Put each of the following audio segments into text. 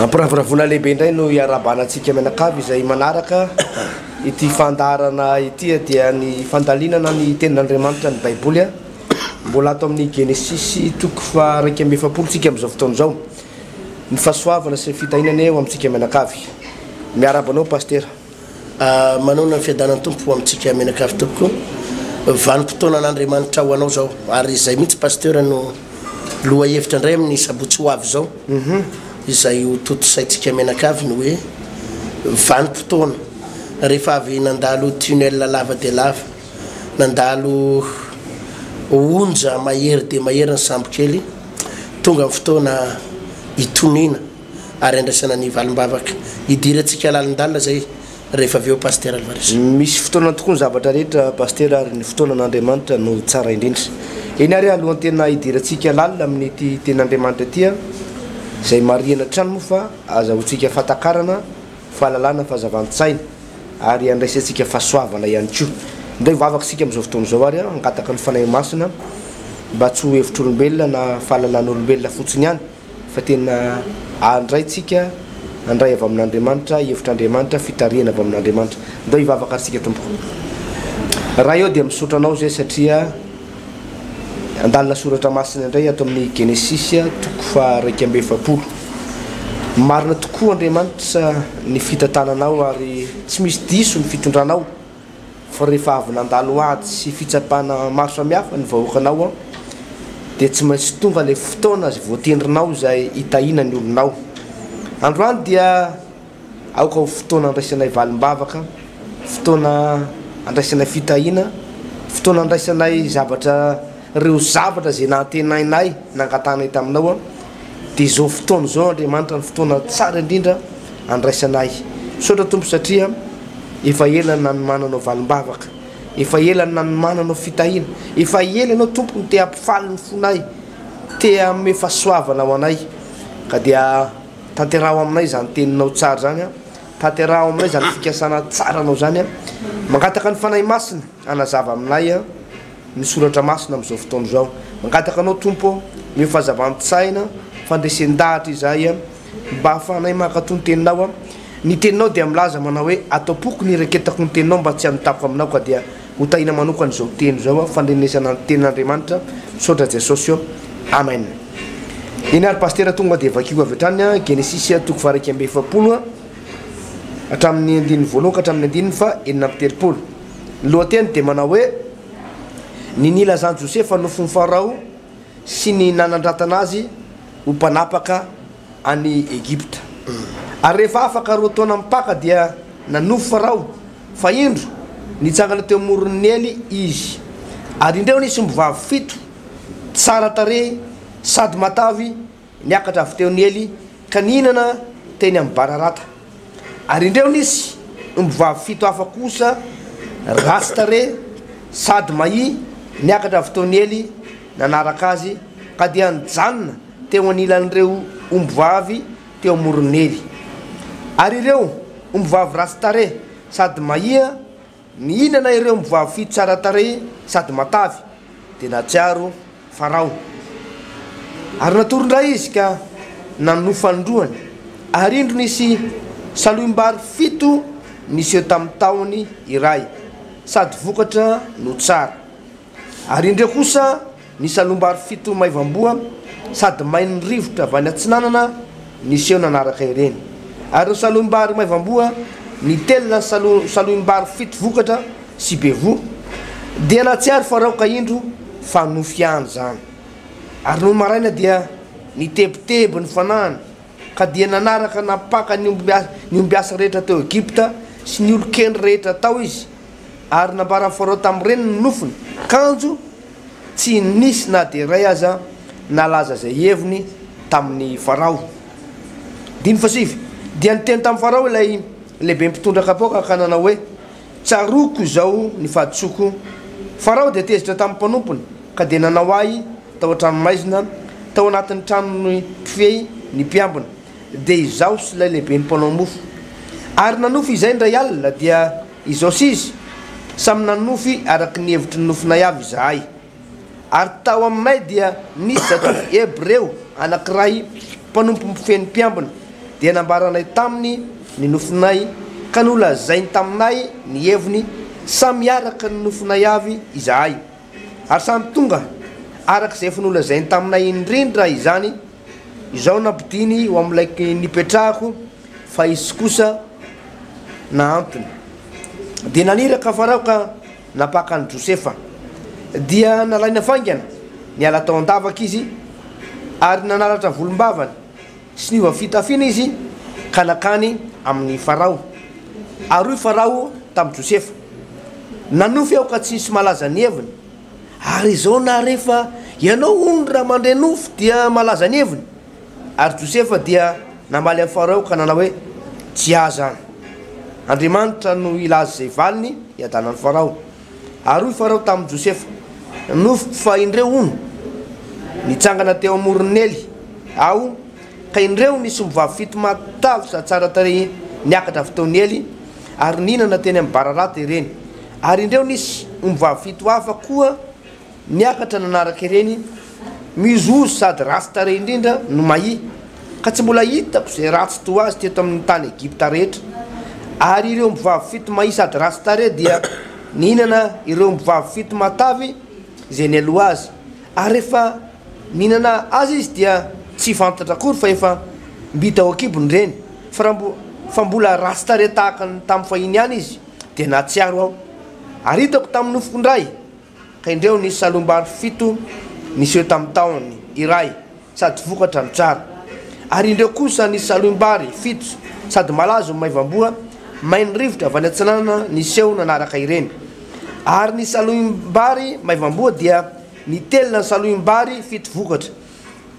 Ampiravoravoana lehibe indray no iarahabana antsika mianakavy izay manaraka ity fandaharana ity dia ny fandalinana ny tenin'Andriamanitra ny baiboly a mbola ato amin'ny genesisy toko faha iraika amby efapolo tsika amin'izao fotoana izao ny fahasoavana sy ny fitahiana anie ho amintsika mianakavy miarahaba anao pasitera Manoana ny fiadanan'ny Tompo ho amintsika mianakavy tompoko. Vanim-potoanan'Andriamanitra ho anao zao ary izay mihitsy Pasteur no lohahevitra indray amin'ny sabotsy ho avy zao. Mhm. Izay ho tontosaintsika mianakavy ny hoe vanim-potoana rehefa avy nandalo tunnel lava dia lava, nandalo onja mahery dia mahery ny sambokely, tonga ny fotoana hitoniana. ary andraisana ny valim-bavaka. Hidirantsika lalin-dalina izay rehefa avy eo Pasitera Alvarez. Misy fotoanany tokoa ny zavatra rehetra Pasitera ary ny fotoanan' Andriamanitra no tsara indrindra. Eny ary alohan'ny tena hidirantsika lalina amin'ity Tenin' Andriamanitra ity an! izay marihana hatrany moa fa azahoantsika fahatakarana, fahalalana, fahazavan-tsaina ary handraisantsika fahasoavana ihany koa. Indray hivavaka isika amin'izao fotoana izao ary hangataka ny Fanahy Masina mba tsy ho hevitr'olombelona na fahalalan'olombelona fotsiny ihany fa tena andraintsika, handray avy amin'Andriamanitra, hevitr'Andriamanitra, fitarihana avy amin'Andriamanitra. Ndao hivavaka ary isika tompoko. Ray ô dia misaotra anao zay satria andalina soratra masina indray ato amin'ny Genesisy toko faha raika amby efapolo. Marina tokoa Andriamanitra ny fitantananao ary tsy misy diso ny fitondranao. Fa rehefa avy nandalo ady sy fitsapana maro samihafa ny vahoakanao an, dia tsy maintsy tonga ilay fotoana izay voatendrinao izay hitahiana ny olonao. Androany dia aoka ho fotoana handraisanay valim-bavaka, fotoana handraisanay fitahiana, fotoana handraisanay zavatra. Ireo zavatra izay nantenainay nangatanay taminao, dia izao fotoana izao Andriamanitra ny fotoana tsara indrindra handraisanay. Misaotra Tompo satria efa ela no nanomananao valim-bavaka, efa ela no nanomananao fitahiana, efa ela Ianao Tompo no te hampifaly ny fonay, te hanome fahasoavana ho anay. Ka dia tanteraho aminay izany Teninao tsara izany, tanteraho aminay izany fikasana tsaranao izany, mangataka ny Fanahy Masina hanazava aminay ny soratra masina amin'izao fotoana izao. Mangataka anao Tompo ny ho fazavan-tsaina, fandresen-dahatra izay mba hahafahanay mankato ny teninao. Ny teninao dia milaza manao hoe atao poko ny hireketako ny teninao mba tsy hanotako aminao ka dia ho tahina manokana izao teny izao aho fandrenesana ny tenin'Andriamanitra. Misaotra Jesosy ô. Amen. Eny ary Pasitera tonga dia vakio avy hatrany Genesisy toko faharaika amby efapolo hatramin'ny andininy voalohany ka hatramin'ny andininy faha enina amby telopolo. Ny lohateny dia manao hoe, Ny nilazan'i Josefa nofon'i Farao sy ny nanandratana azy ho mpanapaka any Egypta. Ary rehefa afaka roa taona mipaka dia nanofy Farao fa indro, nitsangana teo amoron'i Nely izy. Ary indreo nisy ombivavy fito, tsara tarehy sady matavy, Niakatra avy teo ny ely ka nihinana teny amin'ny bararata. Ary indreo nisy ombivavy fito hafa kosa ratsy tarehy sady mahia niakatra avy teo ny ely nanaraka azy ka dia nijanona teo anilan'ireo ombivavy teo amoron'ny ely. Ary ireo ombivavy ratsy tarehy sady mahia Mihinana ireo mivavifidy tsara tarehy sady matavy dia nahatsiaro Farao. Ary natory indray izy ka nanohy fanindroany, ary indro nisy salohim-bary fito niseho tamin'ny tahony iray, sady vokatra no tsara. Ary indreo kosa ny salombary fito maivamboa sady main'ny rivotra avy any atsinanana niseho nanaraka ireny. Ary ireo salombary maivamboa nitelina ny saloimbary fito vokatra sy be voa, dia nahatsiaro Farao ka indro fa nofy ihany izany. Ary nony maraina dia nitebiteby ny fanahiny, ka dia nanaraka nampaka ny ombiasa rehetra teo Egypta sy ny olon-kendry rehetra tao izy, ary nambaran'i Farao tamin'ny reniny ny nofony, kanjo tsy nisy na dia iray aza nalaza izay heviny tamin'i Farao. Andininy fahasivy, Dia niteny tamin'i Farao ilay lehiben'ny mpitondra kapoaka ka nanao hoe, Tsaroako izao ny fahadisoako. Farao dia tezitra tamin'ny mpanompony ka dia nanao ahy tao an-tranomaizina, tao anatin'ny tranon'ny mpifehy ny mpiambina. dia izaho sy ilay lehiben'ny mpanao mofo. Ary nanofy izay indray alina, dia izao sy izy, Samy nanofy araka ny hevitry ny nofinay avy izahay. Ary tao aminay dia nisy zatovo Hebreo anankiray mpanompo mpifehy mpiambina, dia nambaranay taminy ny nofinay, ka nolazainy taminay ny heviny, samy araka ny nofinay avy izahay. Ary samy tonga araka izay efa nolazainy taminay indrindra izany, Izao nampidiny ho amin'ilay nipetrahako fa izy kosa nahantona. Dia naniraka Farao ka nampaka an'i Josefa. Dia nalaina faingana, niala tao an-davaka izy, ary nanaratra volombavany sy niova fitafiana izy ka nankany amin'i Farao. Ary hoy Farao tamin'i Josefa, Nanofy aho ka tsy nisy malaza ny heviny. Ary izao na rehefa ianao hono raha mandre nofo dia malaza ny heviny? Ary Josefa dia namaly an'i Farao ka nanao hoe, Tsy ahy izany. Andriamanitra no hilaza izay valiny hiadanan'i Farao. Ary hoy Farao tamin'i Josefa, Nofiko fa indreo hono nitsangana teo amoron'i Nely aho ka indreo ny sombivavy fito matavy sady tsara tarehy niakatra avy teo Nely, ary nihinana teny amin'ny bararata ireny, ary indreo nisy ombivavy fito hafa koa niakatra nanaraka ireny, mihozohozo sady ratsy tarehy indrindra no mahia, ka tsy mbola hitako izay ratsy toa azy teto amin'ny tany Egypta rehetra. Ary ireo ombivavy fito mahia sady ratsy tarehy dia nihinana ireo ombivavy fito matavy izay nialoha azy, Ary rehefa mihinana azy izy dia tsy vantatra akory fa efa mbita ao an-kibony ireny. Fa raha mbo, fa mbola ratsy tarehy tahaka ny tamin'ny fahiny ihany izy dia nahatsiaro aho. Ary hitako tamin'ny nofoko indray ka indreo ny salombary fito niseho tamin'ny tahony iray. sady vokatra no tsara. Ary indreo kosa ny saloim-bary fito sady malazo ny maivamboa, main' rivotra avy any atsinanana niseho nanaraka ireny. Ary ny saloim-bary maivamboa dia nitelina ny saloim-bary fito vokatra.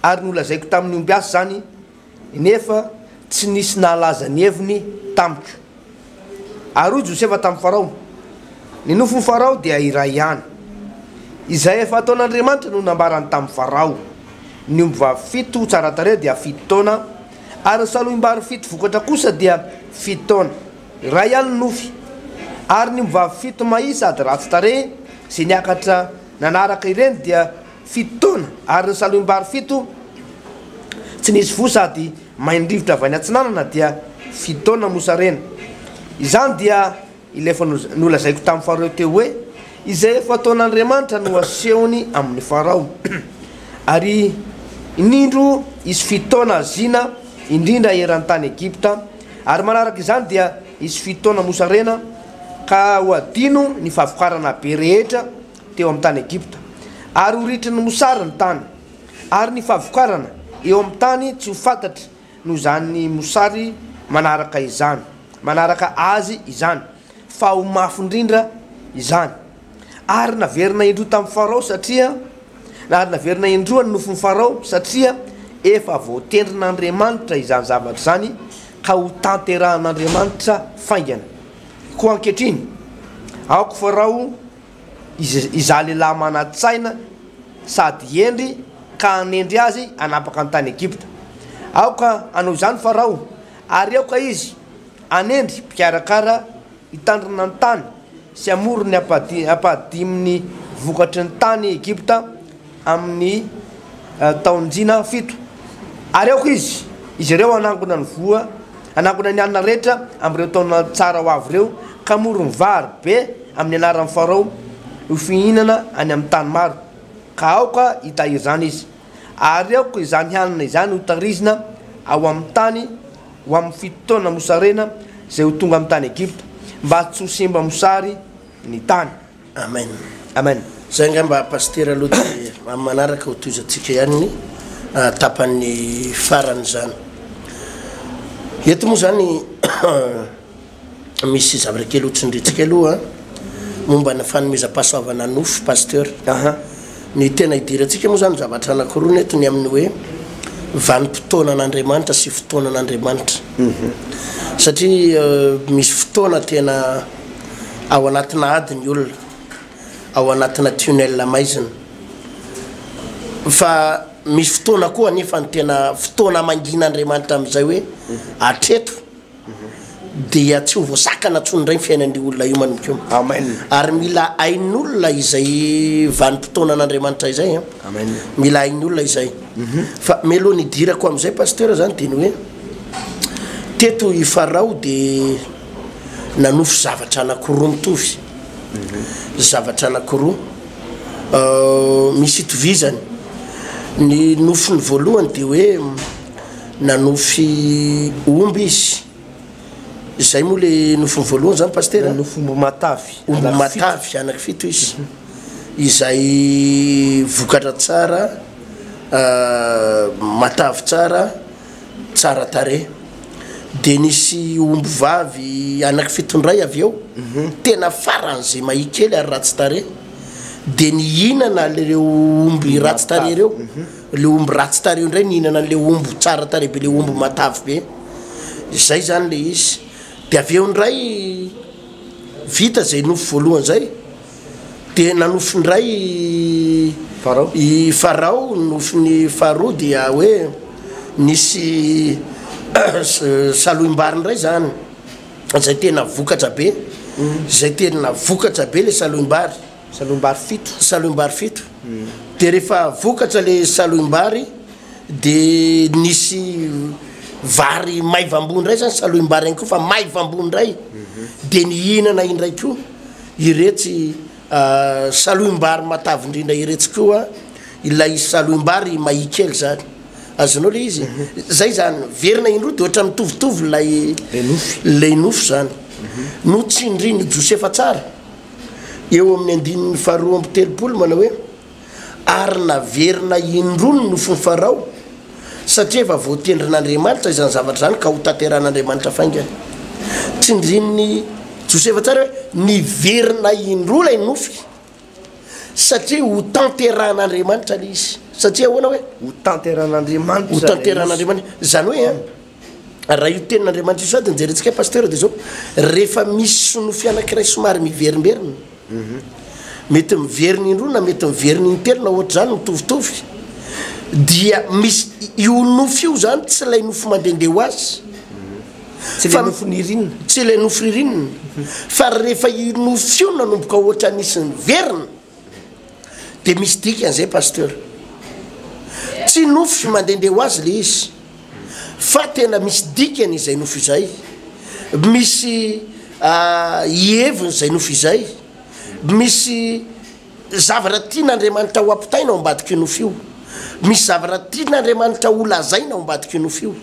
Ary nolazaiko tamin' ny ombiasy izany, nefa tsy nisy nahalaza ny heviny tamiko. Ary hoy Josefa tamin'i Farao, Ny nofon'i Farao dia iray ihany. Izay efa ataon'Andriamanitra no nambarany tamin'i Farao, Ny ombivavy fito tsara tarehy dia fito taona, ary ny salohim-bary fito vokatra kosa dia fito taona. Iray ihany ny nofy. Ary ny ombivavy fito mahia sady ratsy tarehy izay niakatra nanaraka ireny dia fito taona, ary ny salohim-bary fito tsy nisy voa sady Main-drivotra avy any atsinanana dia fitaona mosarena. Izany dia ilay efa nolazaiko tamin'ny faharoa teo hoe izay efa ataon'Andriamanitra no asehony amin'i Farao. Ary inindro hisy fitaona haziana indrindra eran'ny tany Egypta, ary manaraka izany dia hisy fitaona mosarena ka ho adino ny fahavokarana be rehetra teo amin'ny tany Egypta, ary ho ritrin'ny mosary ny tany. Ary ny fahavokarana eo amin'ny tany tsy ho fantatra noho izany mosary manaraka izany, manaraka azy izany, fa ho mafy indrindra izany. Ary naverina indroa tamin'i Farao satria, ary naverina indroa ny nofon'i Farao satria efa voatendrin'Andriamanitra izany zavatra izany ka hotanterahin'Andriamanitra faingana. Koa ankehitriny, aoka Farao. Izaho lehilahy manan-tsaina sady hendry ka hanendry azy hanapaka ny tany Egypta. Aoka hanao izany Farao, ary aoka izy hanendry mpikarakara hitandrina ny tany sy hamory ny ampahadimin'ny vokatry ny tany Egypta, amin'ny taon-jina fito ary aoka izy, izy ireo hanangona ny voa, hanangona ny hanina rehetra amin'ireo taona tsara ho avy ireo, ka hamory ny vary be amin'ny anaran'i Farao ho fihinana any amin'ny tany maro, ka aoka hitahiry izany izy. Ary aoka izany hanina izany hotahirizina ao amin'ny tany ho amin'ny fito taona mosarena izay ho tonga amin'ny tany Egypta, mba tsy ho simba mosary ny tany. Amen Amen zay ngamba Pasitera aloha de amin'ny manaraka ho tohizantsika ihany ny tapany farany zany eto moa zany misy zavatra kely hotsindrintsika aloha momba ny fanomezam-pahasoavana nofo Pasteur ny tena hidirantsika moa zany zavatra anankiroa ny eto ny amin'ny hoe vanim-potoana an'Andriamanitra sy fotoana an'Andriamanitra satria misy fotoana tena Ao anatina ady ny olona, ao anatina tunnel maizina. Fa misy fotoana koa anefa ny tena fotoana mangin'Andriamanitra amin'izay hoe hatreto dia tsy ho voasakana intsony indray ny fiainan'io olona io manomboka io. Amen. Ary mila hain'olona izay vanim-potoanan'Andriamanitra izay an. Amen. Mila hain'ny olona izay. Mhm. Fa mialoha ny hidirako amin'izay pasteur zany dia ny hoe teto i Farao dia nanofy zavatra anankiroa mitovy, zavatra anankiroa misy itovizany. Ny nofiny voalohany dia hoe nanofy omby izy, izay moa le nofiny voalohany zany pasitera? Nanofy omby matavy, omby matavy anaky fito izy, izay vokatra tsara matavy tsara. tsara tarehy de nisy omby vavy anaky fito ndray avy eo tena farany ze mahi kely ary ratsy tarehy de nihinana lreo omby ratsy tarehy reo le omby ratsy tarehy ndray nihinana anle omby tsara tarehy be le omby matavy be de zay zany le izy de avy eo ndray vita zay nofo voalohany zay Dia nanofy indray i Farao, nofin'i Faharoa dia hoe nisy saloim-bary indray izany, izay tena vokatra be, izay tena vokatra be ilay saloim-bary. Saloim-bary fito. Saloim-bary fito. Dia rehefa vokatra ilay saloim-bary, dia nisy vary maivam-boa indray izany saloim-bary ihany koa fa maivam-boa indray, dia nihinana indray koa Iretsy saloim-bary matavindrindra iretsy koa, ilay saloim-bary mahia kely zany, azonao le izy zay zany verina indroa de ohatran'ny mitovitovy ilay ilay nofy zany no tsindrin'i Josefa tsara eo amin'ny andininy faharoa amby telopolo manao hoe. ary naverina indroa ny nofin'i Farao, satria efa voatendrin'Andriamanitra izany zavatra izany ka hotanterahin'Andriamanitra faingana. Tsindrin'i Josefa tsara hoe niverina indroa ilay nofy, satria hotanterahin'Andriamanitra ilay izy. Satria ahoana hoe? Hotanterahin'Andriamanitra. Hotanterahin'Andriamanitra. Izany hoe, Raha io tenin'Andriamanitra io sady no jerentsika Pasteur dia izao, rehefa misy sonofy anankiray somary miverimberina, mety miverina indroa na mety miverina intelo na ohatr'izany mitovitovy, dia misy io nofy io izany tsy ilay nofy mandehandeha ho azy, Tsy ilay nofy ririnina. Tsy ilay nofy ririnina, fa rehefa io nofy io nanomboka ohatran'ny nisy niverina, Dia misy dikany izay Pasteur. Tsy nofo sy mandehandeha ho azy ilay izy, fa tena misy dikany izay nofo izay, misy hiheviny izay nofo izay, misy zavatra tian'Andriamanitra ho ampitaina ao ambadik'io nofo io, misy zavatra tian'Andriamanitra ho lazaina ao ambadik'io nofo io,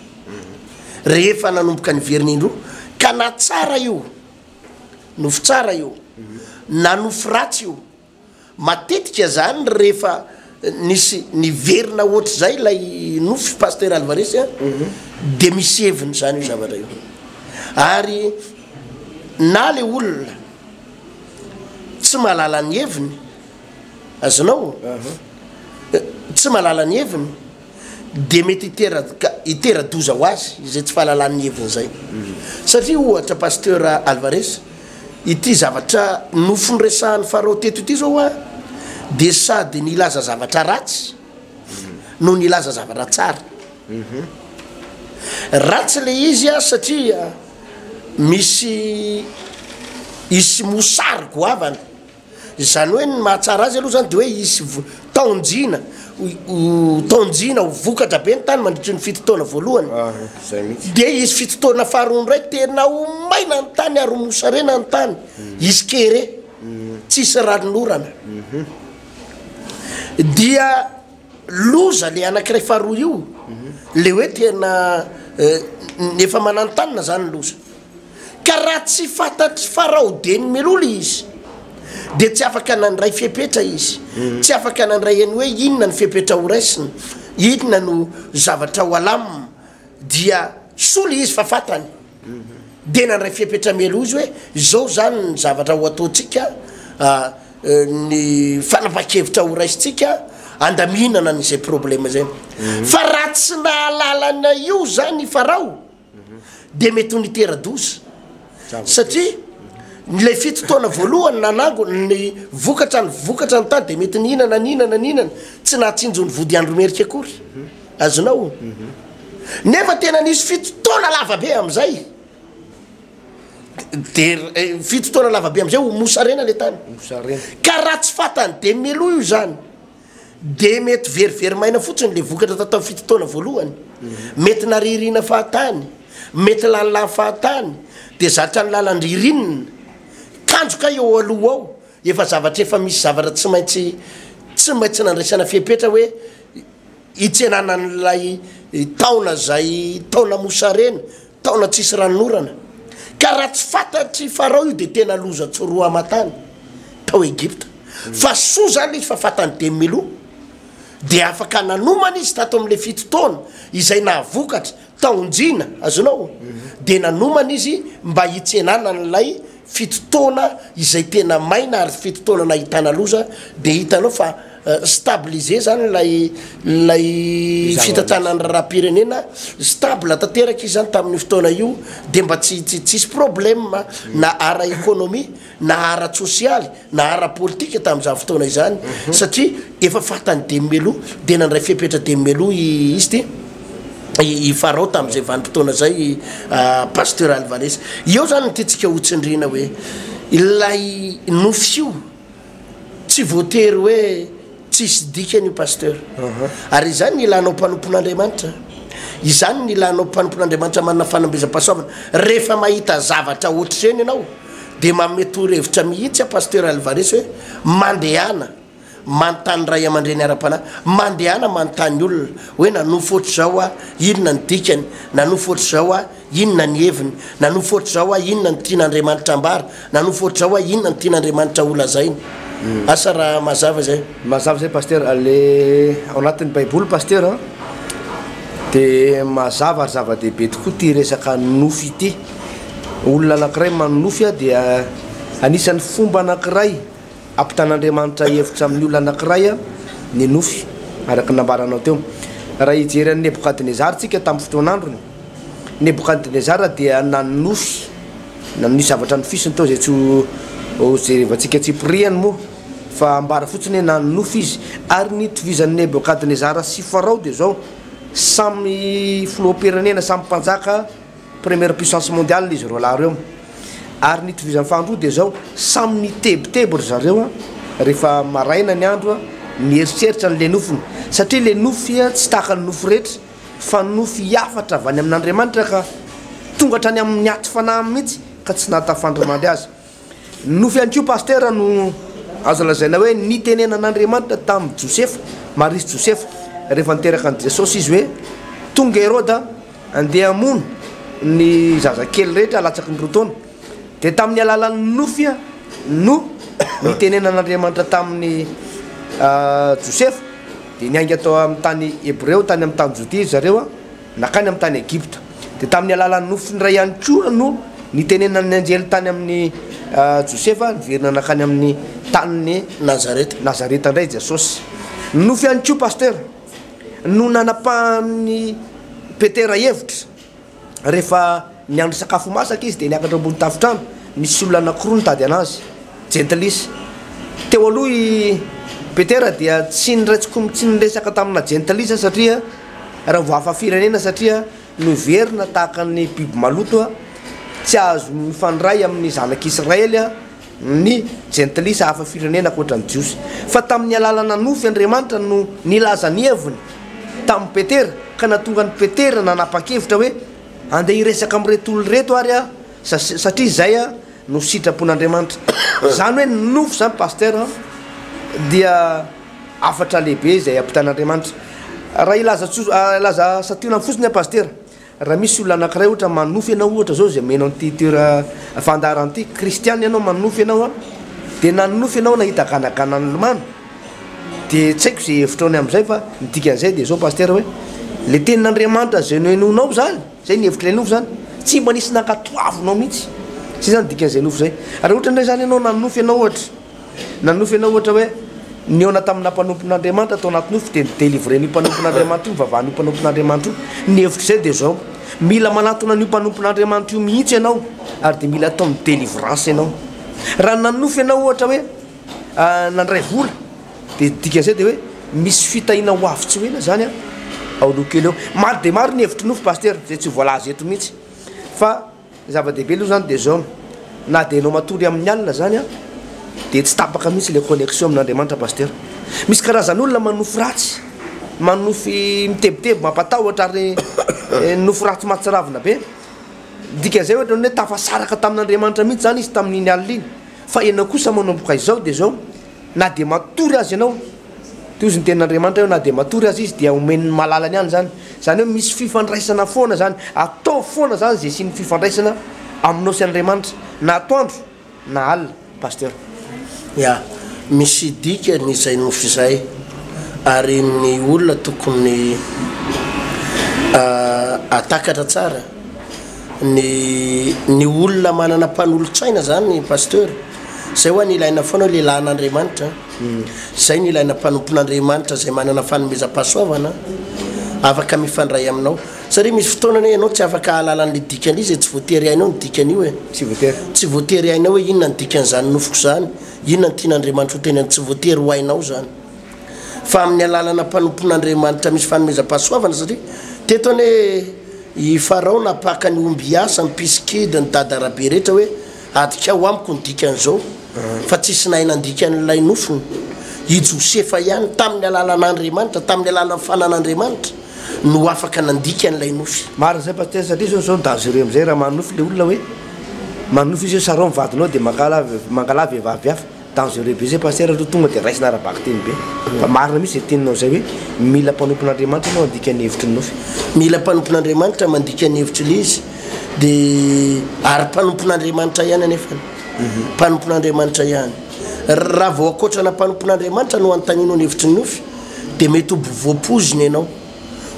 rehefa nanomboka niverina indroa ka nahatsara io Nofy tsara io na nofy ratsy io. Matetika zany rehefa nisy niverina hoatr'izay ilay nofy Pasteur Alvarez a, dia misy heviny zany io zavatra io. Ary na le olona tsy mahalala ny heviny, azonao? Tsy mahalala ny heviny. dia mety hiteraka hitera-doza ho azy izay tsy fahalalan'ny heviny izay. Satria ohatra Pasteur Alvarez, ity zavatra nofnresahan'i Farao teto ity izao an, dia sady nilaza zavatra ratsy no nilaza zavatra tsara. Ratsy ilay izy an, satria misy hisy mosary goavana Izany hoe ny mahatsara azy aloha izany dia hoe hisy taon-jina ho taon-jina ho vokatra be ny tany mandritry ny fito taona voalohany. Dia hisy fito taona faharoa indray tena ho maina ny tany ary ho mosarena ny tany. Hisy kere, tsisy ranon'orana. Dia loza ilay anankiray faharoa io, ilay hoe tena efa mananontanona izany ny loza. Ka raha tsy fantatr'i Farao dia nimelola izy, dia tsy afaka nandray fepetra izy, tsy afaka nandray an'i hoe inona ny fepetra horaisina, inona no zavatra ho alamina, dia sola izy fa fantany, dia nandray fepetra mialoha izy hoe izao izany ny zavatra ho ataontsika, ny fanapahan-kevitra horaisintsika handaminana an'izay problema izay. Fa raha tsy nahalalana io izany i Farao, dia mety ho nitera-doza. Satria ilay fito taona voalohany nanangona ny vokatra ny vokatra ny tany dia mety nihinana nihinana nihinana tsy nahatsinjo ny vody andro merika akory. Azonao? Nefa tena nisy fito taona lavabe amin'izay. Dia eh, fito taona lavabe amin'izay ho mosarena ilay tany. Mosarena. Ka raha tsy fatany dia meloa io izany. Dia mety very very maina fotsiny ilay vokatra tao tamin'ny fito taona voalohany. Mety nariariana fahatany, mety lany lany fahatany, dia zatra ny lalan-dririnina. Kanjo kay eo aloha ao, efa zavatra efa misy zavatra tsy maintsy tsy maintsy nandraisana fepetra hoe hitsenana an'ilay taona izay taona mosarena Taona tsisy ranon'orana. Ka raha tsy fantatr'i Farao io dia tena loza tsy roa aman-tany tao Egypta. Fa soa izany izy fa fantan'i Demilou. Dia afaka nanomana izy tato amin'ilay fito taona izay nahavokatra taon-jina, azonao? Dia nanomana izy mba hitsenana an'ilay fito taona izay tena maina ary fito taona nahitana loza dia hitanao fa stabiliser zany ilay ilay fitantanan'ny raharaham-pirenena stable tanteraka izy zany tamin'io fotoana io dia mba tsy tsy tsisy problème na ara-ekonomia na ara-tsosialy na ara-politika tamin'izany fotoana izany satria efa fatan'i Demmelou dia nandray fepetra Demmelou i izy ity i Farao tamin'izay vanim-potoana izay Pasteur Alvarez. Eo izany no tiantsika hotsindriana hoe ilay nofy io tsy voatery hoe Tsisy dikany io Pasteur. Ary izany ny ilànao mpanompon'Andriamanitra. Izany ny ilànao mpanompon'Andriamanitra manana fanambezam-pahasoavana. Rehefa mahita zavatra ohatr'ireny ianao dia manome toro-hevitra mihitsy aho Pasteur Alvarez hoe mandehana manontany ray aman-dreny ara-panahy, mandehana manontany olona hoe nanofy ohatr'izao aho, inona ny dikany, nanofy ohatr'izao aho, Inona ny heviny? Nanofy ohatr'izao aho, Inona no tian'Andriamanitra ambara? Nanofy ohatr'izao aho, Inona no tian'Andriamanitra holazaina? Asa raha mazava izay. Mazava izay Pasteur, le ao anatin'ny baiboly Pasteur a, dia mazava ary zava-dehibe tokoa ity resaka nofy ity. Olona anankiray manonofy a, dia anisan'ny fomba anankiray ampitan'Andriamanitra hevitra amin'ny olona anankiray a, ny nofy, araka ny nambaranao teo. Raha hijery an'i Nebokadnezara tsika tamin'ny fotoan'androny, Nebokadnezara dia nanonofy, nanome zavatra nofisiny tao izay tsy ho jerevantsika tsipiriany moa fa ambara fotsiny hoe nanonofy izy. Ary ny itovizan'i Nebokadnezara sy Farao dia izao, samy filoham-pirenena, samy mpanjaka, première puissance mondiale izy roalahy ireo. Ary ny itovizany faharoa dia izao, samy nitebiteby ry zareo rehefa maraina ny andro, mieritreritra ny lenofiny, satria lenofy tsy tahaka ny nofy rehetra. fa nofy hafatra avy any amin' Andriamanitra ka tonga hatrany amin' ny aty fanahy mihitsy ka tsy nahatafandrimandry azy. Nofy ihany koa Pasitera no azo lazaina hoe nitenenan' Andriamanitra tamin' Josefa, Maria sy Josefa, rehefa niteraka an' i Jesosy izy hoe tonga Heroda andeha hamono ny zazakely rehetra latsaky ny roa taona. Dia tamin'ny alalan'ny nofy no nitenenan'Andriamanitra tamin'i Josefa, dia niainga tao amin'ny tany Hebreo, tany amin'ny tany Jodia, ry zareo, nankany amin'ny tany Egypta. Dia tamin'ny alalan'ny nofiny iray ihany koa no nitenenan'ny anjely tany amin'i Josefa, niverina nankany amin'ny tanin'i Nazareta. Nazareta indray i Jesosy. Ny nofy ihany koa, Pasteur, no nanapahan'i Petera hevitra Rehefa niandry sakafo ho masaka izy dia niakatra ambony tafontrano. Nisy olona anankiroa nitady an'azy. Jentilisa. Teo aloha i Petera dia tsy niray tsikomy tsy niresaka tamina jentilisa satria raha vao hafa firenena satria noheverina tahaka ny biby maloto tsy azo mifandray amin'ny zanak'Israely ny Jentilisa hafa firenena ankoatra ny Jiosy, fa tamin'ny alalana nofy Andriamanitra no nilaza ny heviny tamin'i Petera, ka nahatonga an'i Petera nanapa-kevitra hoe, Andeha hiresaka amin'ireto olona ireto ary aho, satria izay no sitrapon'Andriamanitra. Izany hoe ny nofy izany Pasteur an, dia hafatra lehibe izay ampitan'Andriamanitra. Raha hilaza tso, hilaza santionany fotsiny aho Pasteur, Raha misy olona anankiray ohatra manofy anao ohatra zao izay omena an'ity toera fandaharana ity, kristiana ianao manofy anao an, dia na ninofy ianao nahita ganagana nilomano, dia tsy haiko izay hevitro ny amin'izay fa ny dikan'izay dia zao Pasitera hoe, le tenin'Andriamanitra izay nohenoinao zany, zay ny hevitr'ilay nofy zany, tsy mba nisy nankatoavinao mihitsy, zay zany dikan'izay nofy zay, raha ohatra indray zany ianao nanofy ianao ohatra, Nanonofy ianao ohatra hoe nihaona tamina mpanompon'Andriamanitra tao anaty nofy dia ni-délivrer-n'io mpanompon'Andriamanitra io ny vavahan'io mpanompon'Andriamanitra io. Ny hevitr'izay dia izao, mila manatona an'io mpanompon'Andriamanitra io mihitsy ianao ary dia mila ataony délivrance ianao. Raha nanonofy ianao ohatra hoe nandray vola dia ny dikan'izay dia hoe misy fitahiana ho avy tsy ho ela izany ao aloha kely ao. Maro dia maro ny hevitry ny nofy Pasitera izay tsy ho voalaza eto mihitsy fa Ny zava-dehibe aloha izany dia izao, na dia ianao matory amin'ny alina izany an, dia tsy tapaka mihitsy ilay connexion amin'Andriamanitra Pasteur. Misy karazan'olona manofy ratsy, manofy mitebiteby, mampatahotra ary nofy ratsy mahatsiravina be. Ny dikan'izay ohatra ny hoe tafasaraka tamin'Andriamanitra mihitsy izany izy tamin'iny alina iny, fa ianao kosa manomboka izao dia izao, Na dia matory aza ianao, toy izay ny tenin'Andriamanitra hoe na dia matory aza izy dia omen'ny malalany any izany. Izany hoe misy fifandraisana foana izany. Ataovy foana izany izay hisian'ny fifandraisana aminao sy Andriamanitra na atoandro na alina Pasteur. Ya, misy dikany izay nofy izay, ary ny olona tokony ahatakatra tsara, ny ny olona manana mpanolotsaina izany Pasteur, Izay hoa no ilaina foana hoe lehilahin' Andriamanitra, izay no ilaina mpanompon' Andriamanitra izay manana fanomezam-pahasoavana afaka mifandray aminao. Satria misy fotoana anie ianao tsy afaka hahalala an'ilay dikany izay tsy voatery hainao ny dikan'io e. Tsy voatery. Tsy voatery hainao hoe inona ny dikan'izany nofiko izany, inona no tian' Andriamanitra ho tenenina, tsy voatery ho hainao izany. Fa amin'ny alalana mpanompon' Andriamanitra misy fanomezam-pahasoavana satria teto anie i Farao napaka ny omby hiasa, ny mpisikida, ny dada arabe rehetra hoe Adikao amiko ny dikan'izao, fa tsisy nahay nandika an'ilay nofony. I Josefa ihany, tamin'ny alalan'Andriamanitra, tamin'ny alalan'ny fanan'Andriamanitra, no afaka nandika an'ilay nofy. Marina izay Pasitera, satria izao izao ny danger amin'izay, raha manonofy ilay olona hoe, manonofy izy hoe sarao ny vadinao dia mangalà, mangalà vehivavy hafa. Dangereux be zay Pasteur aloha tonga de raisina ara-bakiteny be fa marina mihitsy zay teninao zay hoe mila mpanompon'Andriamanitra ianao handika ny hevitry ny nofy. Mila mpanompon'Andriamanitra mandika ny hevitry Ilay izy dia ary mpanompon'Andriamanitra ihany anefany mpanompon'Andriamanitra ihany. Raha vao ankoatrana mpanompon'Andriamanitra no hanontanianao ny hevitry ny nofy dia mety ho voapoizina ianao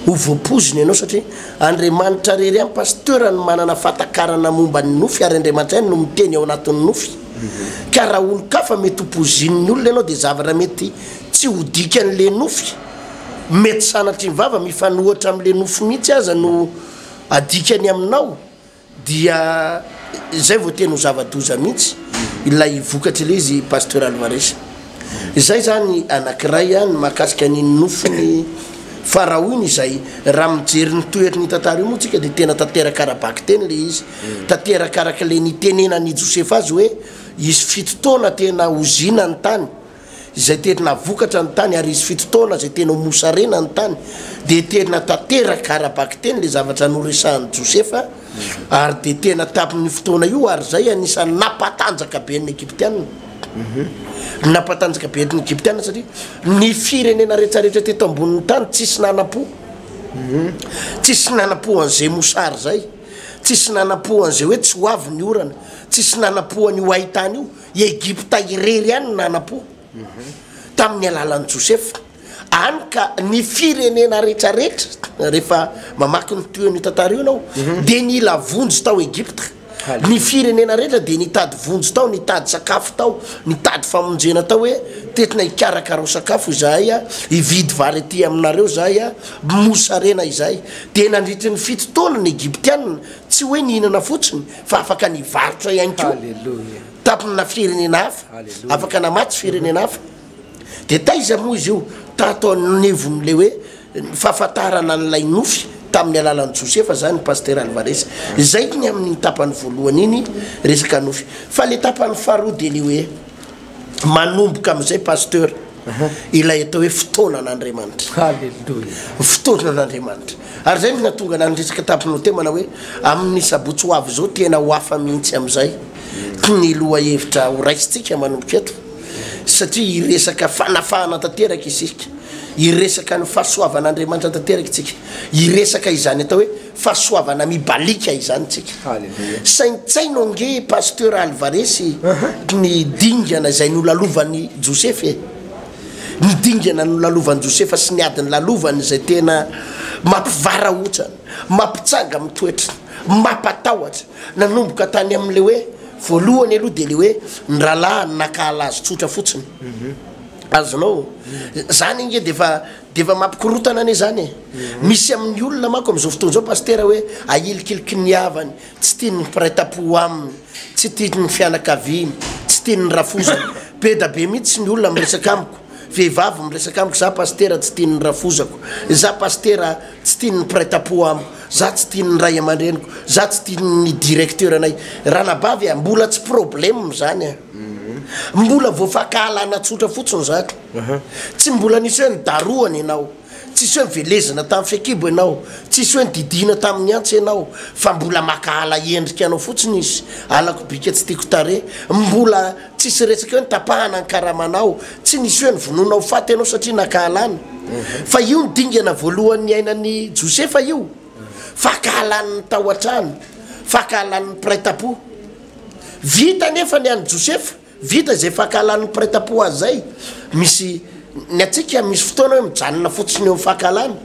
ho voapoizina ianao satria Andriamanitra rery ihany Pasteur no manana fahatakarana momba ny nofy ary Andriamanitra ihany no miteny ao anatin'ny nofy. ka raha olon-kafa mety ho pozin'ny olona ianao dia zavatra mety tsy ho dikan'ilay nofy, mety sanatria ny vava mifanohitra amin'ilay nofy mihitsy aza no adikany aminao dia izay vao tena ho zava-doza mihitsy ilay vokatra ilay izy Pasteur Alvarez. Izay izany anankiray an ny mahakasika ny nofin'ny Farao iny izay raha mijery ny toery ny tantara io moa tsika dia tena tanteraka ara-bakiteny ilay izy Tanteraka araka ilay nitenenan'i Josefa azy hoe, Hisy fito taona tena hozina ny tany, izay tena vokatra ny tany, ary hisy fito taona izay tena ho mosarena ny tany. Dia tena tanteraka ara-bakiteny ilay zavatra noresahin'i Josefa, ary dia tena tamin'io fotoana io àry izay anisan'ny nampatanjaka be ny Egyptiana. Nampatanjaka be ny Egyptiana satria ny firenena rehetrarehetra teto ambonin'ny tany tsisy nanam-po, tsisy nanam-po an'izay mosary izay. Tsisy nanampo an'izay hoe tsy ho avy ny orana, tsisy nanampo an'io haintany io. I Egypta irery ihany no nanampo, tamin'ny alalan'i Josefa. Hany ka ny firenena rehetrarehetra, rehefa mamaky ny tohin'io tantara io ianao, dia nila vonjy tao Egypta. Ny firenena rehetra dia nitady vonjy tao, nitady sakafo tao, nitady famonjena tao hoe, Tetina hikarakarao sakafo izahay, hividy vary aty aminareo izahay, mosarena izahay. Dia nandritry ny fito taona ny Egyptiana tsy hoe nihinana fotsiny fa afaka nivarotra ihany koa tamina firenena hafa, afaka namatsy firenena hafa. Dia taiza moa izy io? Tato anivon'ilay hoe fahafantarana an'ilay nofy tamin'ny alalan'i Josefa izany Pasitera Alvarez. Izay ny amin'iny tapany voalohany iny resaka nofy. Fa ilay tapany faharoa dia ny hoe. manomboka amin'izay pasteur ilay atao hoe fotoanan'Andriamanitra. Haleloia. Fotoanan'Andriamanitra. Ary izay no nahatonga na ny resaka tamin'ny Notemana hoe amin'ny sabotsy ho avy izao tena ho hafa mihitsy amin'izay ny lohahevitra horaisintsika manomboka eto satria hiresaka fanafahana tanteraka isika, hiresaka ny fahasoavan'Andriamanitra tanteraka isika, hiresaka izany atao hoe Fahasoavana mibaliaka izany tsika. Saintsaino ange Pasteur Alvarez ny dingana izay nolalovany Josefa e! Ny dingana nolalovany Josefa sy ny ady nilalovany izay tena mampivarahontsana, mampitsanga amin'ny toetra, mampatahotra. Nanomboka tany amin'ilay hoe, voalohany aloha dia ilay hoe ny rahalahiny nakahala azy tsotra fotsiny. Azonao? Izany ange dia efa Dia efa mampikorotana anie izany e! Misy amin'ny olona manko amin'izao fotoana izao Pasitera hoe ahilikiliky ny havany, tsy tiany ny mpiray tampo aminy, tsy tiany ny fianakaviany, tsy tiany ny rafozany. Be da be mihitsy ny olona miresaka amiko, vehivavy miresaka amiko, za Pasitera tsy tiany ny rafozako, za Pasitera tsy tiany ny mpiray tampo amiko, za tsy tiany ny ray aman-dreniko, za tsy tiany ny directeur-nay. Ranabavy a! Mbola tsy problème izany a! Mbola voafahakalana tsotra fotsiny izany. Aha. Tsy mbola nisy hoe nidarohana ianao, tsisy hoe nivelezina tamin'ny fekibo ianao, tsisy hoe nididiana tamin'ny antsy ianao, fa mbola maka ala endrika anao fotsiny izy, alako bika tsy tiako tarehy, mbola tsisy resaka hoe nitapahana ny karamanao, tsy nisy hoe novonoina ho faty ianao satria naka alana. Fa io no dingana voalohany niainan'i Josefa io, faka alan'ny tao an-trano, faka alan'ny mpiray tampo. Vita anefa ny an'i Josefa. Vita izay fankahalan'ny mpiretampo azy izay, misy Ny antsika misy fotoana hoe mijanona fotsiny eo amin'ny fankahalana.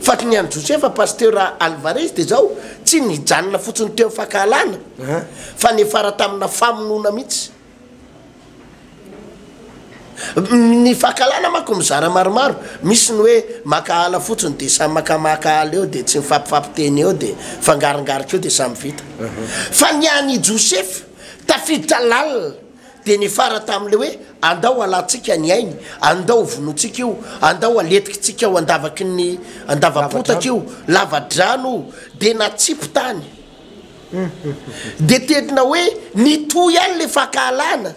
Fa ny an'i Josefa Pasitera Alvarez dia izao, tsy nijanona fotsiny teo amin'ny fankahalana fa niafara tamina famonoana mihitsy. Ny fankahalana manko mizara maromaro, misy ny hoe mankahala fotsiny dia samy mankamahakahala eo dia tsy mifampifapiteny eo dia fangarongarika eo dia samy vita. Fa ny an'i Josefa. Tafiditra lalina dia niafara tamin'ilay hoe andao halantsika ny ainy, andao hovonointsika io, andao haletikintsika ho andavaky ny andavam-potaka io, lava-drano io, dia natsipy tany. Dia tena hoe nitohy ihany ilay fankahalana,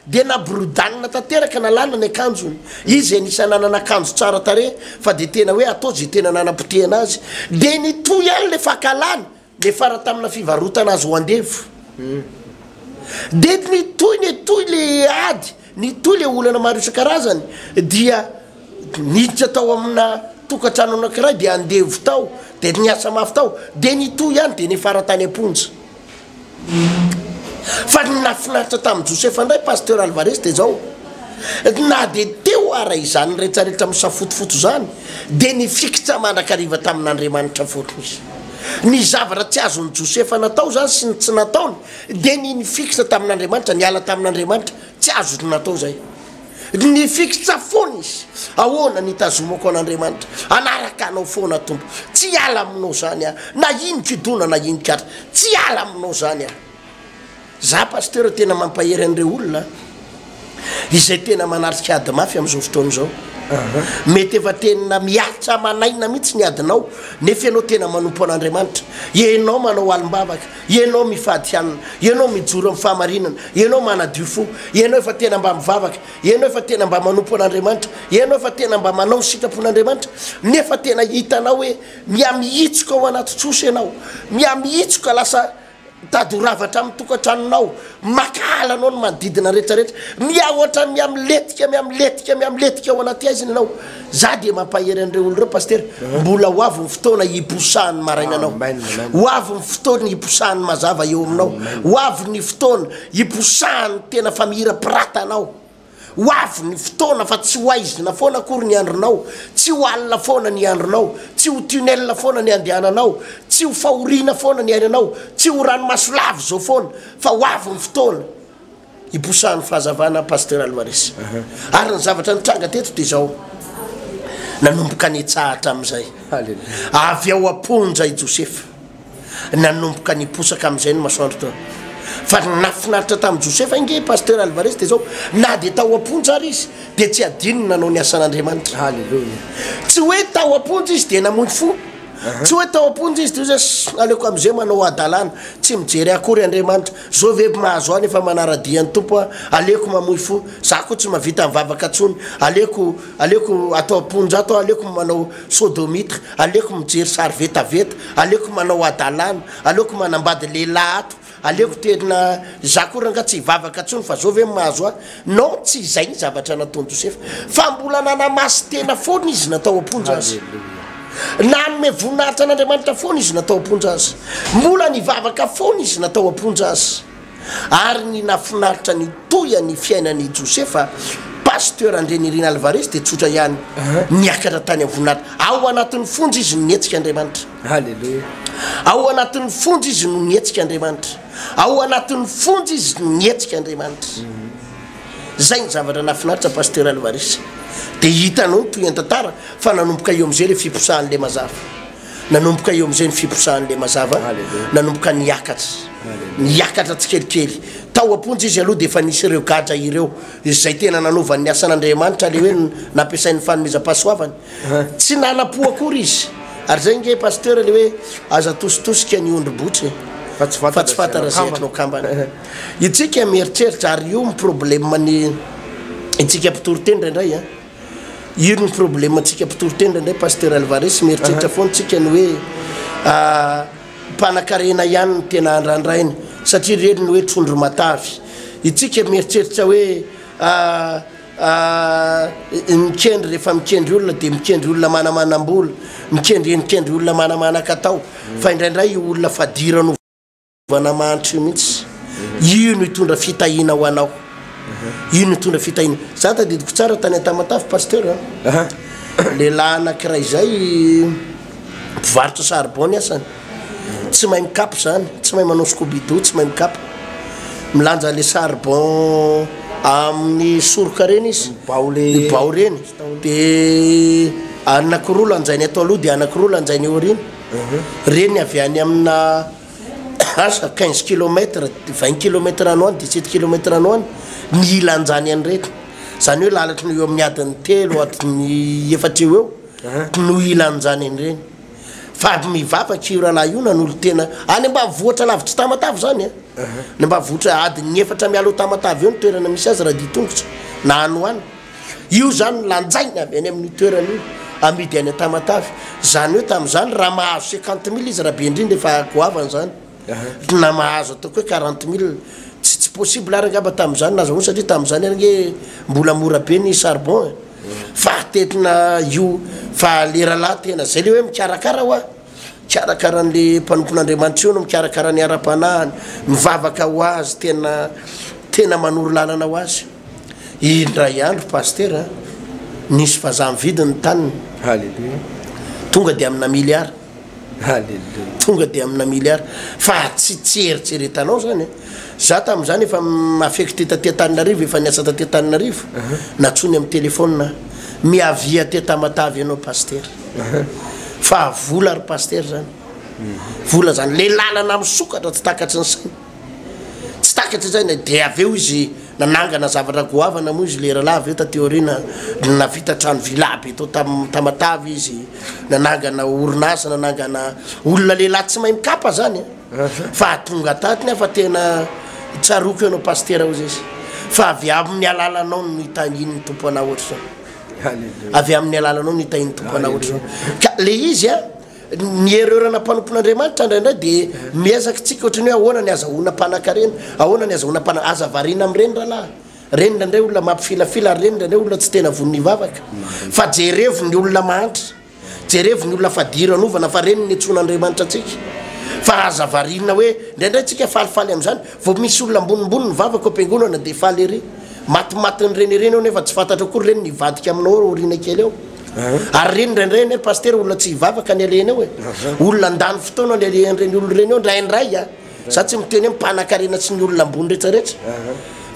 dia naborodanina tanteraka, nalana ny akanjony, izy izay anisan'ny nanana akanjo tsara tarehy fa dia tena hoe atao izay tena nanapotehana azy, dia nitohy ihany ilay fankahalana, Niafara tamina fivarotana azy ho andevo. Dia nitohy nitohy le ady, nitohy le olana maro isan-karazany dia niditra tao amina tokantrano anankiray dia andevo tao dia niasa mafy tao dia nitohy ihany dia niafara tany am-ponja. Fa ny nahafinaritra tamin'i Josefa indray Pasteur Alvarez dia izao, na dia teo ara izany rehetra rehetra misafotofoto izany dia nifikitra mandrakariva tamin'Andriamanitra foana izy. Ny zavatra tsy azon'i Josefa natao izany sy ny tsy nataony dia ny nifikitra tamin'Andriamanitra, niala tamin'Andriamanitra. Tsy azony natao izay. Nifikitra foana izy. Ahoana ny hitazomako an'Andriamanitra? Hanaraka Anao foana, Tompo. Tsy hiala aminao izany aho, na inonkidona na inonk'atra. Tsy hiala aminao izany aho. Za pasteur tena mampahery an'ireo olona izay tena manatrika ady mafy amin'izao fotoana izao. Mety efa tena miaritra aman'aina mihitsy ny adinao nefa ianao tena manompo an'Andriamanitra. Ianao manao alim-bavaka, ianao mifady hanina, ianao mijoro amin'ny fahamarinana, ianao manadio fo, ianao efa tena mba mivavaka, ianao efa tena mba manompo an'Andriamanitra, ianao efa tena mba manao ny sitrapon'Andriamanitra nefa tena hitanao hoe mihamihitsoka ao anaty trosa ianao, mihamihitsoka lasa Mitady ho rava hatramin'ny tokantranonao, mankahala anao ny manodidina rehetrarehetra, miha hoatran'ny miha milentika, miha milentika, miha milentika ao anaty haizina ianao. Za dia mampahery an'ireo olona ireo Pasitera, mbola ho avy ny fotoana hiposahan'ny maraina anao, ho avy ny fotoana hiposahan'ny mazava eo aminao, ho avy ny fotoana hiposahan'ny tena fa mihira pirata anao. Ho avy ny fotoana fa tsy ho haizina foana akory ny andronao, tsy ho alina foana ny andronao, tsy ho tunnel foana ny andehananao, tsy ho fahoriana foana ny ainanao, tsy ho ranomaso lava izao foana, fa ho avy ny fotoana hiposahan'ny fahazavana Pasteur Alvarez. Ary ny zavatra nitranga teto dia izao, nanomboka nihetsahatra amin'izay, avy ao am-ponja i Josefa. Nanomboka niposaka amin'izay ny masoandro teo. Fa ny nahafinaritra tamin'i Josefa ange, Pasteur Alvarez, dia izao, na dia tao am-ponja ary izy, dia tsy adino ny nanao ny asan'Andriamanitra. Haleloia. Tsy hoe tao am-ponja izy dia namoy fo. Tsy hoe tao am-ponja izy dia hoe, Ssss, aleoko amin'izay manao hadalana, tsy mijery ahy akory Andriamanitra. Izao ve mahazo ahy nefa manara-dia ny Tompo aho? Aleoko mamoy fo. Izaho koa tsy mahavita mivavaka intsony. Aleoko, aleoko ato am-ponja ato aho, aleoko manao. Sodomita, aleoko mijery sary vetaveta, aleoko manao hadalana, aleoko manambady lehilahy ato, aleoko tena za koa ranga tsy hivavaka tsony fa zao ve mahazo ahy? Non tsy izay ny zavatra nataon'i Josefa fa mbola nanamaso tena foana izy natao am-ponja aza. Nanome voninahitra an'Andriamanitra foana izy natao am-ponja aza. Mbola nivavaka foana izy natao am-ponja aza. ary ny nafinaritra ny toya ny fiainan' i Josefa, Pasteur Andrianirina Alvarez dia tsotra ihany, niakatra tany am-voninahitra. Ao anatin' ny fonja izy no nihetsika Andriamanitra. Haleloia. Ao anatin' ny fonja izy no nihetsika Andriamanitra. Ao anatin' ny fonja izy no nihetsika Andriamanitra. Izay ny zavatra nafinaritra Pasteur Alvarez. Dia hitanao ny tohian-tantara fa nanomboka eo amin'izay ilay fiposahan' ilay mazava. Nanomboka eo amin'izay ny fiposahan'ilay mazava, nanomboka niakatra, niakatra tsikelikely. Tao am-ponja izy aloha dia efa nisy ireo gadra ireo, izay tena nanaovany ny asan'Andriamanitra, ilay hoe nampiasainy ny fanomezam-pahasoavany. Tsy nana-po akory izy. Ary izay ange Pasteur ilay hoe, aza atositosika ny ondry botry e! Fa tsy fantatra izay atinao kambana. Itsika mieritreritra, ary io mi-problème ny itsika mpitoriteny indraindray an! Iro ny problème antsika mpitory tena indray Pasteur Alvarez, mieritreritra foana tsika ny hoe mpanakarena ihany no tena andrandraina satria ry rery ny hoe trondro matavy. Itsika mieritreritra hoe mikendry rehefa mikendry olona dia mikendry olona manamanam-bola, mikendry endrikendry olona manamanakatao fa indraindray io olona fadiro an'o. Fitaovana mahantra io mihitsy. Io no hitondra fitahiana ho anao. Io no hitondra fitahiana. Za tadidiko tsara tany Antamatave Pasteur. Lehilahy anankiray izay mpivarotra charbon ny asany. Tsy mahay mikapa izany, tsy mahay manao scoubidou, tsy mahay mikapa. Milanja le charbon amin'ny soroka ireny izy. Bao le bao ireny. Dia anakiroa lanjainy ato aloha dia anakiroa lanjainy eo aoriana. Ireny avy any amina asa quinze kilomètre vingt kilomètre any ho any dix sept kilomètre any ho any ny ilan'izany any rehetra zany hoe lalatry ny eo amin'ny adiny telo adiny efatra eo eo no ilan'izany any ireny fa avy mivavaka io rahalahy io nanolo tena any ambanivohitra lavitry tamatave zany a ny ambanivohitra adin'ny efatra mialoha tamatave eo ny toerana misy azy raha dia tongotra na any ho any Io izany no lanjaina avy any amin'io toerana io, amidy any Tamatave. Izany hoe tamin'izany raha mahazo cinquante mille izy raha be indrindra efa goavana izany, na mahazo ataoko hoe quarante mille. Tsy tsy possible ary angamba tamin'izany nahazoany satria tamin'izany ary ange mbola mora be ny charbon e. Fa tetina io fa leralahy tena, izay ilay hoe mikarakara hoa. Mikarakara an'le mpanompon'Andriamanitra io no mikarakara ny ara-panahiny, mivavaka ho azy tena tena manoro lalana ho azy. Indray andro Pasitera a, nisy vazaha nividy ny taniny. Haleloia. Tonga dia amina miliara. Haleloia. Tonga dia amina miliara. Fa tsy tsy eritreretanao zany a. Za tamin'izany efa affecté taty Antananarivo, efa niasa taty Antananarivo. Natsoiny amin'ny téléphone aho. Miavia aty Tamatave ianao Pasitera. Fa vola ry pasitera zany. Vola zany. Le lalana misokatra tsy takatry ny sainy. Tsy takatry ny sainy de avy eo izy nanangana zavatra goavana moa izy le rahalahy avy eo taty aoriana navita trano villa be tao tam tamatave izy nanangana orinasa nanangana olona lehilahy tsy mahay mikapa zany a fa tonga taty nefa tena tsaroko ianao pasitera ozy izy fa avy amin'ny alalanao no itangin'ny tompo anao ohatr'izao Avy amin'ny alalanao ny tahin'ny Tompo anao ohatr'izao. Ka le izy a, ny erreur ana mpanompon'Andriamanitra indraindray dia miezaka tsika ohatry ny hoe ahoana ny azahoana mpanankarena, ahoana ny azahoana mpana-, aza variana amin'ireny rahalahy. Ireny indraindray olona mampifilafila ary ireny indraindray olona tsy tena vono hivavaka. Fa jerevo ny olona mahantra. Jerevo ny olona fa dira anovana fa reny ny nitsoina Andriamanitra antsika. Fa aza variana hoe indraindray tsika falifaly amin'izany. Vao misy olona ambonimbony ny vavaka ao am-piangonana dia faly ery. Matimatin'ny reny ireny ao nefa tsy fantatro akory reny ny hivadika aminao ao aoriana kely ao. Ary reny indraindray anie Pasitera olona tsy hivavaka ny alehany ao e. Olona handany fotoana ny alehan'ireny olona ireny ao indraindray a. Za tsy miteny hoe mpanakarena sy ny olona ambony retraretra.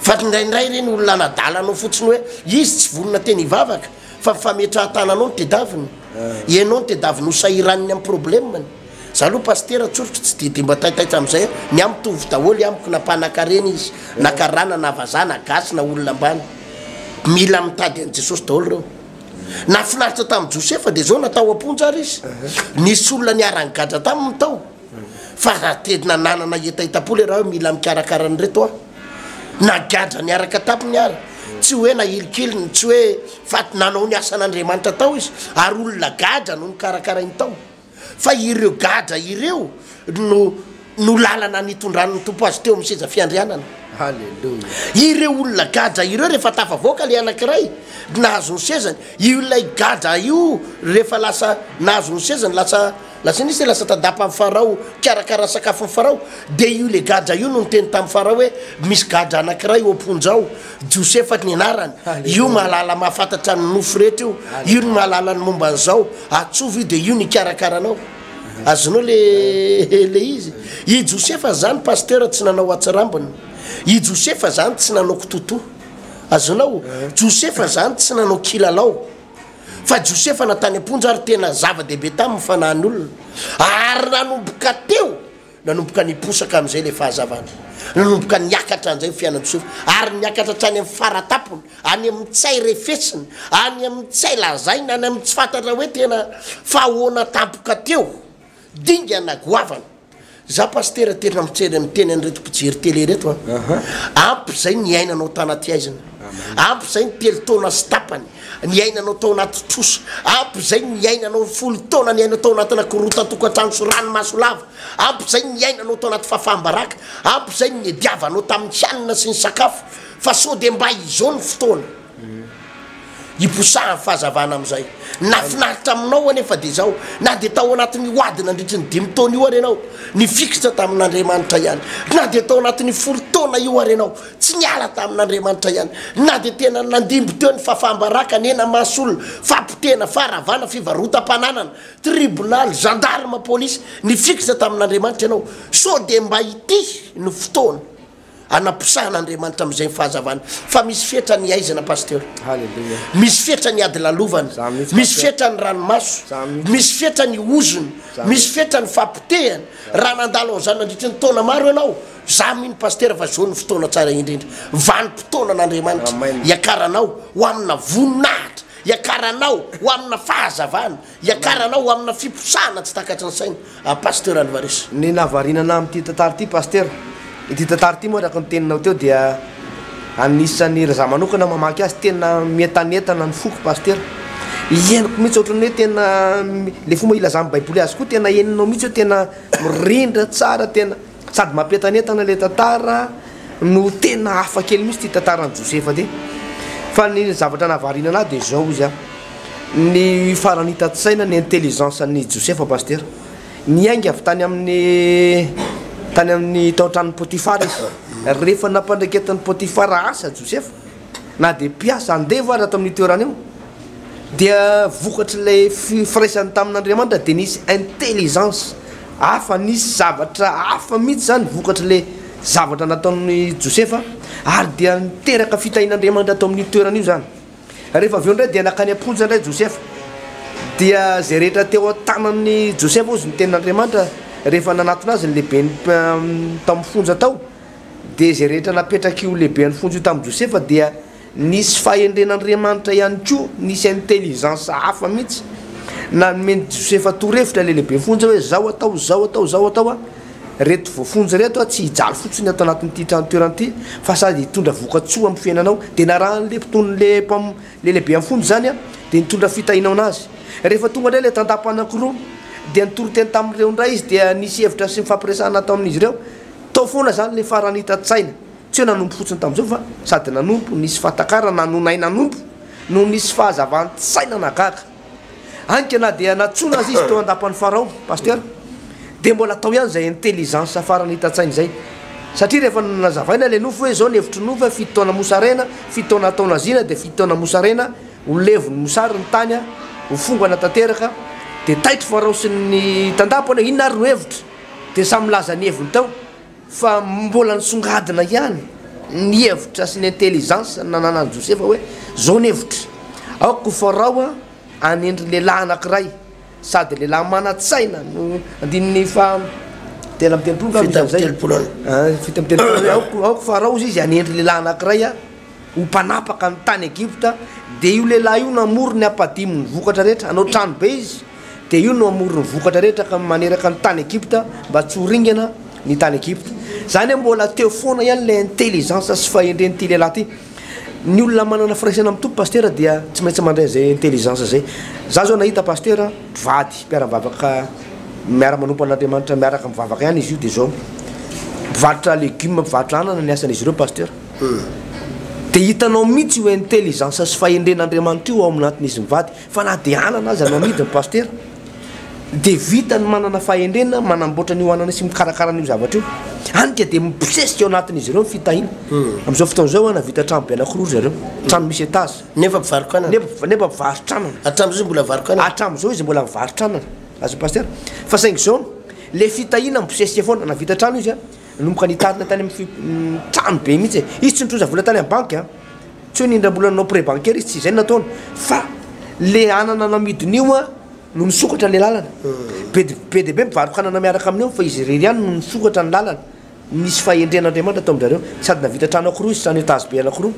Fa indraindray ireny olona hanadala anao fotsiny hoe izy tsy vonona teny hivavaka. Fa fametrahan-tananao no tedaviny? Ianao no tedaviny ho sahirany ny amin'ny problemany? Za aloha pasitera tsoritro tsy dia dia mba taitaitra amin'izay aho, ny ahy mitovy daholo amiko na mpanakarena izy, na karana, na vazaha, na gasy, na olona ambany. Mila mitady an'i Jesosy daholo ireo. Nahafinaritra tamin'i Josefa dia izao, natao am-ponja ary izy. Nisy olona niara-nigadra taminy tao. Fa raha tena nanana hetahetam-po le raha mila mikarakara an'ireto a! Nagadra niaraka tampony ary tsy hoe nahilikiliny, tsy hoe fa nanao ny asan'Andriamanitra tao izy ary olona gadra no nikarakarainy tao. Fa ireo gadra ireo no no lalana nitondran'ny Tompo azy teo amin'ny seza fiandrianana. Ireo olona gadra ireo rehefa tafavoaka le anankiray nahazo ny sezany, ilay gadra io rehefa lasa nahazo ny sezany lasa Lazainy izy hoe lasa tandapa amin'i Farao hikarakara ny sakafon'i Farao. Dia io ilay gadra io no niteny tamin'i Farao hoe, Misy gadra anankiray ao am-ponja ao, Josefa ny anarany. Io mahalala mahafantatra ny nofo rehetra io. Io no mahalala ny momba an'izao. Antsovy io, dia io no hikarakara anao. Azonao ilay ilay izy? I Josefa izany, pasteur, tsy nanao hatsirambina. I Josefa izany tsy nanao kitotoa. Azonao? Josefa izany tsy nanao kilalao. fa Josefa na tany am-ponja ary tena zava-dehibe taminy ny fanahin'ny olona, ary nanomboka teo, nanomboka niposaka amin'izay ilay fahazavana, nanomboka niakatra an'izay ny fiainan'i Josefa, ary niakatra hatrany amin'ny fara-tampony, any amin'ny tsy hay refesina, any amin'ny tsy hay lazaina, any amin'ny tsy fantatra hoe tena fa ahoana tampoka teo. Dingana goavana. Za Pasitera tena miteny miteny an'ireto mpijery tele ireto a. Ampy izay niainanao tanaty haizina. Ampy izay ny telo taona sy tapany niainanao tao anaty trosa. Ampy izay niainanao ny folo taona niainao tao anatina korontan-tokantrano sy ranomaso lava. Ampy izay niainanao tao anaty fahafaham-baraka. Ampy izay ny niadiavanao tamin'ny hanina sy ny sakafo. Fa sao dia mba izao ny fotoana. Iposahan'ny fahazavana amin'izay. Nahafinaritra aminao anefa dia izao, na dia tao anatin'ny ho ady nandritry ny dimy taona io ary ianao, nifikitra tamin'Andriamanitra ihany. Na dia tao anatin'ny folo taona io ary ianao, tsy niala tamin'Andriamanitra ihany. Na dia tena nandimby teo ny fahafaham-baraka, nena-maso olona, fahapotehana, faharavana, fivarotam-pananana, tribonaly, zandarima, polisy, nifikitra tamin'Andriamanitra ianao. Sao dia mba ity no fotoana. Anaposahan'Andriamanitra amin'izay ny fahazavana fa misy fetra ny aizina Pasteur. Haleloia. Misy fetra ny ady lalovana. Zany mihitsy, Misy Pasteur. fetra ny ranomaso. Zany mihitsy. Misy fetra ny ozona. Zany Misy mihitsy. fetra ny fahapotehana. Raha nandalo an'izany nandritry ny taona maro ianao, za mino Pasteur fa zao no fotoana tsara indrindra. Vanim-potoana an'Andriamanitra Amen. hiakaranao ho amina voninahitra, hiakaranao ho amina fahazavana. Hiakarana aho amina fiposahana tsy takatry ny saina aho Pasteur Alvarez. Ny nahavariana anah amin'ity tantara ity Pasteur, ity tantara ity moa araka ny teninao teo dia anisan'ny raha za manokana mamaky azy tena mientanentana ny foko Pasteur. Henoko mihitsy ohatran'ny hoe tena le fomba ilazan'ny baiboly azy koa tena henonao mihitsy hoe tena mirindra tsara tena. Sady mampientanentana ilay tantara no tena hafa kely mihitsy ity tantaran'i Josefa ity. Fa ny zavatra nahavariana anahy dia izao izy an. Ny farany hitan-tsaina ny intelligence an'i Josefa Pasitera. Niainga avy tany amin'ny tany amin'ny tao an-tranon'i Potifara izy. Rehefa nampandreketan'i Potifara asa Josefa na dia mpiasa andevo aza tao amin'io toerana io, dia vokatr'ilay firaisany tamin'Andriamanitra dia nisy intelligence hafa, nisy zavatra hafa mihitsy izany vokatr'ilay zavatra nataon'i Josefa, ary dia niteraka fitahian'Andriamanitra tao amin'io toerana io izany. Rehefa avy eo indray dia nankany am-ponja indray Josefa, dia izay rehetra teo an-tanan'i Josefa hozy ny tenin'Andriamanitra rehefa nanatona azy ny lehiben'ny tao amin'ny fonja tao. dia izay rehetra napetrak'io lehiben'ny fonja io tamin'i Josefa dia nisy fahendren'Andriamanitra ihany koa, nisy intelligence hafa mihitsy nanomen'i Josefa torohevitra ilay lehiben'ny fonja hoe zao atao, zao atao, zao atao an, reto voafonja reto tsy hijaly fotsiny ato anatin'ity tranontoerana ity fa sady hitondra vokatsoa amin'ny fiainanao, dia narahan'ilay mpiton'ilay mpam, ilay lehiben'ny fonja izany an, dia nitondra fitahiana ho an'azy. Rehefa tonga indray ilay tantapa anankiroa dia nitoriteny tamin'ireo indray izy dia nisy hevitra sy nifampiresahana tao amin'izy ireo, Tao foana izany ilay farany hitan-tsaina. Tsy hoe nanompo fotsiny tamin'izao fa sady nanompo, nisy fahatakarana, nonay nanompo no nisy fahazavan-tsaina nagaga. Ainka na dia nantsoina aza izy teo an-dapan'i Farao, Pasteur, dia mbola tao ihany izay intelligence farany hitan-tsaina izay. Satria rehefa nazavaina ilay nofo hoe izao ny hevitry ny nofo hoe fito taona mosarena, fito taona hatao naziana dia fito taona mosarena, ho levon'ny mosary ny tany, ho fongana tanteraka, dia taitry Farao sy ny tandapany hoe inona ary no hevitra? dia samy nilaza ny heviny tao fa mbola nisongadina ihany ny hevitra sy ny intelligence nananan'i Josefa hoe, izao ny hevitry, aoka ho Farao hanendry lehilahy anankiray sady lehilahy manan-tsaina no, andininy faha telo amby telopolo angamba izy amin'izay, fito amby telopolo eo, ah, fito amby telopolo eo, aoka, aoka Farao izy hanendry lehilahy anankiray ho mpanapaka ny tany Egypta, dia io lehilahy io namory ny hampadimin'ny vokatra rehetra, hanao trano be izy, dia io no hamory ny vokatra rehetra ka maneraka ny tany Egypta mba tsy ho ringana ny tany Egypta. Izany hoe mbola teo foana ihany ilay intelligence sy fahendren'ity lehilahy ity. Ny olona manana firaisana amin'ny Tompo Pasitera dia tsy maintsy mandray izay intelligence izay. Izaho izao nahita Pasitera mpivady, mpiara-mivavaka miara-manompo an'Andriamanitra miaraka mivavaka ihany izy io dia izao. Mpivarotra legume, mpivarotra anana ny asan'izy ireo Pasitera. Dia hitanao mihitsy io intelligence sy fahendren'Andriamanitra io ao aminatin'izy mivady. Fa na dia anana aza no amidiny Pasitera dia vita ny manana fahendrena manamboatra an'io anana sy mikarakara an'io zavatra io. Any ka dia mibosesika ao anatin'izy ireo ny fitahiana. Amin'izao fotoana izao ana vita trano be anankiroa ry zareo, trano misy étage. Nefa mpivarok'anana. Nefa nefa mpivarotranana. Hatramin'izao izy mbola mivarok'anana. Hatramin'izao izy mbola mivarotranana. Azony Pasitera. Fa saingy izao, ilay fitahiana mibosesika foana. Na vita trano izy a, nanomboka nitarina tany amin'ny fi, trano be mihitsy e. Izy tsy nitrosa vola tany amin'ny banky a. Tsy hoe nindram-bola nanao prêt bancaire izy, tsy izay no nataony fa le anana namidiny io an no nisokatra le lalana. Be de be dia be mpivarokanana miaraka aminy eo fa izy irery ihany no nisokatra ny lalana. Nisy fahendren'Andriamanitra tao amin-dry zareo sady navita trano anankiroa izy, trano étage be anankiroa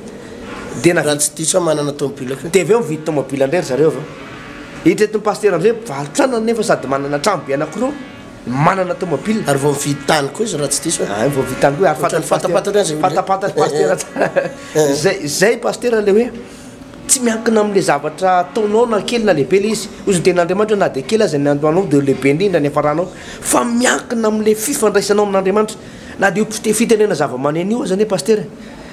dia navita. Raha tsy diso aho manana tomobila koa. Dia avy eo nividy tomobila indray ry zareo avy eo. Itreto ny pasitera indray mpivarotranana nefa sady manana trano be anankiroa. Manana tomobile ary voavidy tany koa izy raha tsy diso e. Ay, voavidy tany koa, ary fantany pasitera. Fantapantany azy ny olona. Fantapantany pasitera tsara. Zay, zay pasitera le hoe tsy miankina amle zavatra ataonao na kely na lehibe le izy. Hoy ny tenin'Andriamanitra hoe na dia kely aza ny andohanao dia ho lehibe indrindra ny hafaranao. Fa miankina amle fifandraisanao amin'Andriamanitra. Na dia io fitenena zavamaneno io aza anie pasitera e,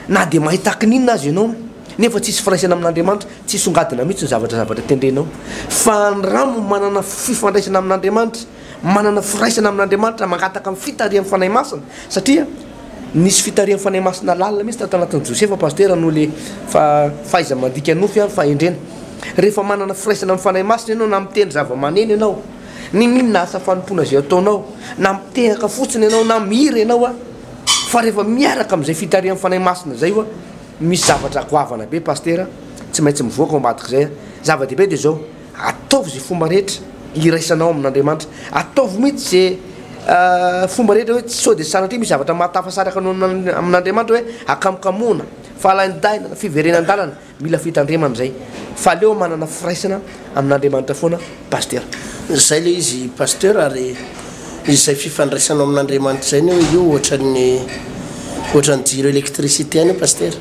na dia mahay takininona aza ianao. Nefa tsisy firaisana amin'Andriamanitra, tsy hisongadina mihitsy ny zavatra zavatra tendrenao. Fa ny ramo manana fifandraisana amin'Andriamanitra, manana firaisana amin'Andriamanitra, mangataka ny fitarihan'ny Fanahy Masina, satria nisy fitarihan'ny Fanahy Masina lalina mihitsy tato anatin'i Josefa Pasitera noho le fa fahaiza mandika nofy ary fahendrena. Rehefa manana firaisana amin'ny Fanahy Masina ianao na mitendry zava-maneno ianao, n'inon'inona asa fanompoana izay ataonao, na mitehaka fotsiny ianao na mihira ianao a, fa rehefa miaraka amin'izay fitarihan'ny Fanahy Masina izay oa, Misy zavatra goavana be Pastera tsy maintsy mivoaka ao ambadik'izay a! Zava-dehibe dia izao, ataovy izay fomba rehetra hiraisanao amin'Andriamanitra, ataovy mihitsy izay fomba rehetra hoe sao dia sanatria misy zavatra mahatafasaraka anao amin'Andriamanitra hoe hakamokamoana, fahalaindainana, fiverenan-dalana, mila fitandremana izay fa aleo manana firaisana. amin'Andriamanitra foana Pasteur. Zay le izy Pasteur ary izay fifandraisanao amin'Andriamanitra zay anie hoe io ohatran'ny ohatran'ny jiro électricité any io Pasteur.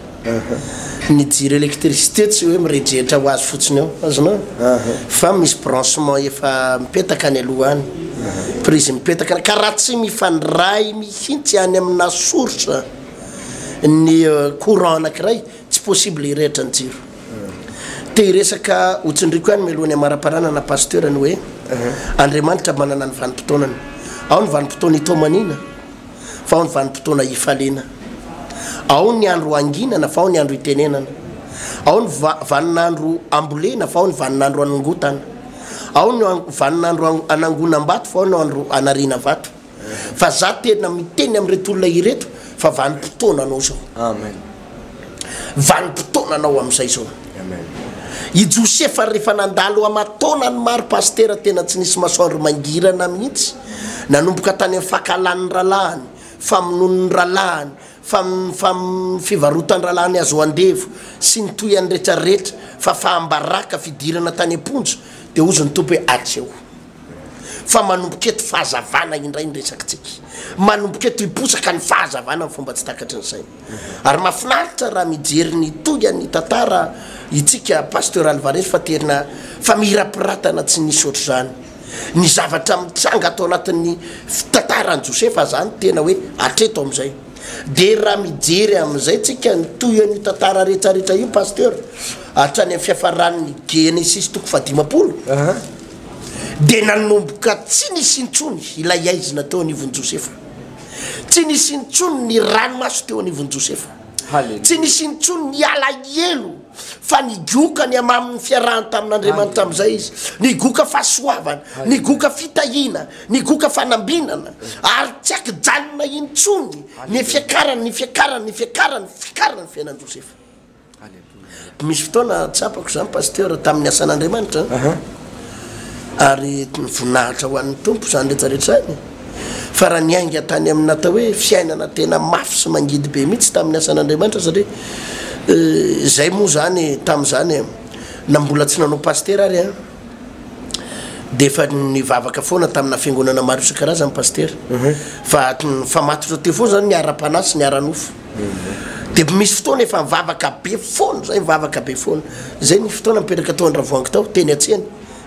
Ny jiro électricité tsy hoe mirejehitra ho azy fotsiny eo, azonao? Fa misy branchement efa mipetaka any aloha any, prise mipetaka any, ka raha tsy mifandray mihitsy any aminà source ny courant anankiray, tsy possible hirehitra ny jiro. Te hiresaka ho tsindriako ihany mialoha ny hamaraparanana Pasteur ny hoe Andriamanitra manana ny vanim-potoanany. Ao ny vanim-potoana hitomaniana fa ao ny vanim-potoana hifaliana. Ao ny andro hanginana fa ao ny andro hitenenana. Ao ny vanin'andro hambolena fa ao ny vanin'andro hanongotana. Ao ny vanin'andro hanangonam-bato fa ao ny andro hanariana vato. Fa za tena miteny amin'ireto olona ireto fa vanim-potoananao zao. Amen. Vanim-potoananao amin'izay zao. Amen. I Josefa rehefa nandalo aman-taonany maro Pasitera tena tsy nisy masoandro mangirana mihitsy. Nanomboka tany amin'ny fankahalan'ny rahalahiny, famonoan'ny rahalahiny, fam, fam, fivarotan-drahalahiny azo andevo sy ny toy an'retraretra, fafaham-baraka, fidirana tany am-ponja. Dia hozy ny Tompo hoe atsy ao. Fa manomboka eto fahazavana indray ny resakitsika. Manomboka eto hiposaka ny fahazavana amin'ny fomba tsy takatry ny saina. Ary mahafinaritra raha mijery ny tohian'ny tantara itsika Pasteur Alvarez fa tena famirapiratana tsy nisy ohatr'izany. Ny zavatra mitranga ato anatin'ny tantaran'i Josefa izany tena hoe hatreto amin'izay. Dia raha mijery amin'izay tsika ny tohian'io tantara rehetrarehetra io Pasteur, hatrany amin'ny fiafaran'ny Genesisy toko fahadimampolo, dia nanomboka tsy nisy intsony ilay aizina teo anivon'i Josefa. Tsy nisy intsony ny ranomaso teo anivon'i Josefa. Haleloia. Tsy nisy intsony ny alahelo fa nigoka ny hamamin'ny fiarahany tamin'Andriamanitra amin'izay izy. Nigoka fahasoavana, nigoka fitahiana, nigoka fanambinana, ary tsy ankijanona intsony ny fiakarany, ny fiakarany, ny fiakarany, ny fiakarany ny fiainan'i Josefa. Aleloia. Misy fotoana tsapako izany Pasteur tamin'ny asan'Andriamanitra Aha. ary voninahitra ho an'ny Tompo izany rehetra rehetra izany fa raha niainga tany amin'ny natao hoe fiainana tena mafy sy mangidy be mihitsy tamin'ny asan'Andriamanitra satria izay moa izany tamin'izany e na mbola tsy nanao Pasitera ary an dia efa nivavaka foana tamina fiangonana maro isan-karazany Pasitera fa fa matotra teo foana izany ny ara-panahy sy ny ara-nofo. Dia misy fotoana efa nivavaka be foana zay, nivavaka be foana. Zay ny fotoana nipetraka tao Andravoahangy tao, teny an-tsena,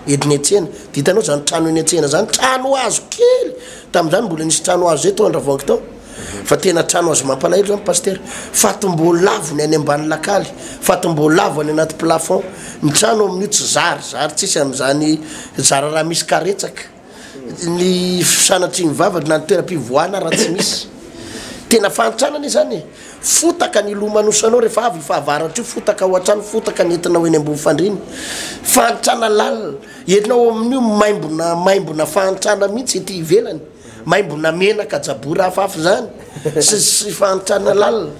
ediny an-tsena. Dia hitanao zany trano eny an-tsena zany, trano hazo kely, tamin'izany mbola nisy trano hazo zay tao Andravoahangy tao. Fa tena trano hazo mampalahelo zany Pasitera. Fatim-boalavo ny any ambany lakaly, fatim-boalavo any anaty plafond. Ny trano amin'io tsy zary, zary tsisy amin'izany zara raha misy karetsaka. ny fanatriny vavaka na ny toeram-pivoahana raha tsy misy tena fahantrana ne zany e fotaka ny lomanosanao rehefa avy fahavaratra io fotaka ao an-trano fotaka ny entinao eny ambony fandriny fahantrana lalina ianao amin'io maimbona maimbona fahantrana mihitsy ety ivelany maimbona menaka jabory hafahafa zany sy sy fahantrana lalina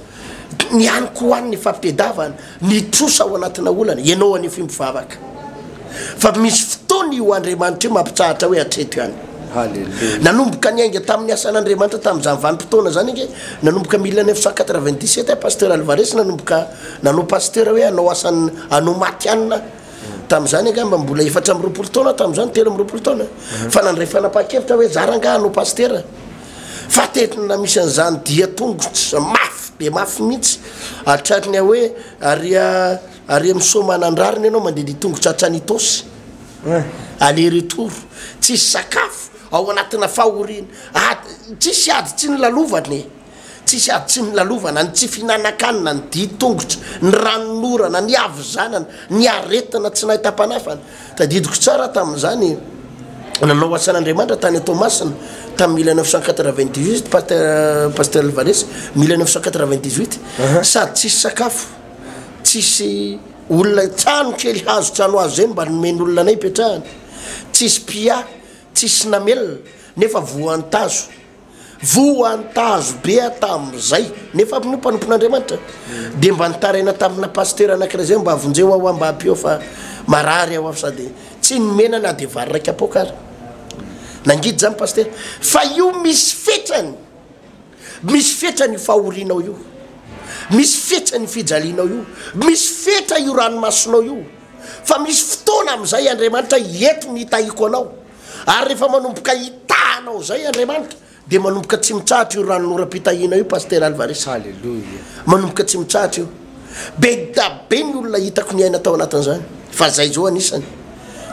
Ny any ko any ny fampitedavana, ny trosa ao anatina olana, ianao anio fy mivavaka fa misy fotoana io Andriamanitra io mampitsahatra hoe hatreto ihany. Nanomboka niainga tamin'ny asan'Andriamanitra tamin'izany vanim-potoana izany ange, nanomboka mille neuf cent quatre-vingt-dix-sept aho Pasteur Alvarez nanomboka nanao Pasteur hoe hanao asan'ny hanao matihanina tamin'izany angamba mbola efatra amby roapolo taona aho tamin'izany, telo amby roapolo taona, fa nandray fanapahan-kevitra aho hoe za rangahy hanao Pasteur. fa tetina misy an'izany dia tongotra mafy dia mafy mihitsy hatrany ny hoe ary ary misaoma anandrariny ianao mandedia tongotra hatrany Itaosy aller retour tsisy sakafo ao anatina fahoriana ady tsisy ady tsy ny lalovana e tsisy ady tsy ny lalovana ny tsy fihinanan-kanina ny dia tongotra ny ranonorana ny havizanana ny aretina tsy nahitam-panafana Tadidiko tsara tamin'izany, nanao asan'Andriamanitra tany à Toamasina tamin'ny mille neuf cent quatre-vingt-dix-huit Pasteur Pasteur Alvarez, mille neuf cent quatre-vingt-dix-huit, sady tsisy sakafo, tsisy olona, trano kely hazo trano hazo izay no mba nomen'olona anay hipetrahana, tsisy mpiahy, tsisy namelona, nefa voan'ny tazo. Voantazo be aho tamin'izay, nefa aho moa mpanompon'Andriamanitra. Dia mba nitaraina tamina pasitera anankiray izay hoe, mba vonjeo aho aho mba ampio aho fa marary aho aho sady tsy nomena na dia vary iraika poaka aza. Nangidy izany pasitera, fa io misy fetrany, misy fetrany io fahorianao io, misy fetrany io fijalianao io, misy fetra io ranomasonao io, fa misy fotoana amin'izay Andriamanitra hiety ny hitahiako anao. Ary rehefa manomboka hitaha anao izay Andriamanitra dia manomboka tsy mitsahatra io ranonoram-pitahiana io Pasitera Alvarez. Alléluia. Manomboka tsy mitsahatra io. Be da be ny olona hitako niaina tao anatin'izany. Fa zay zao anisany.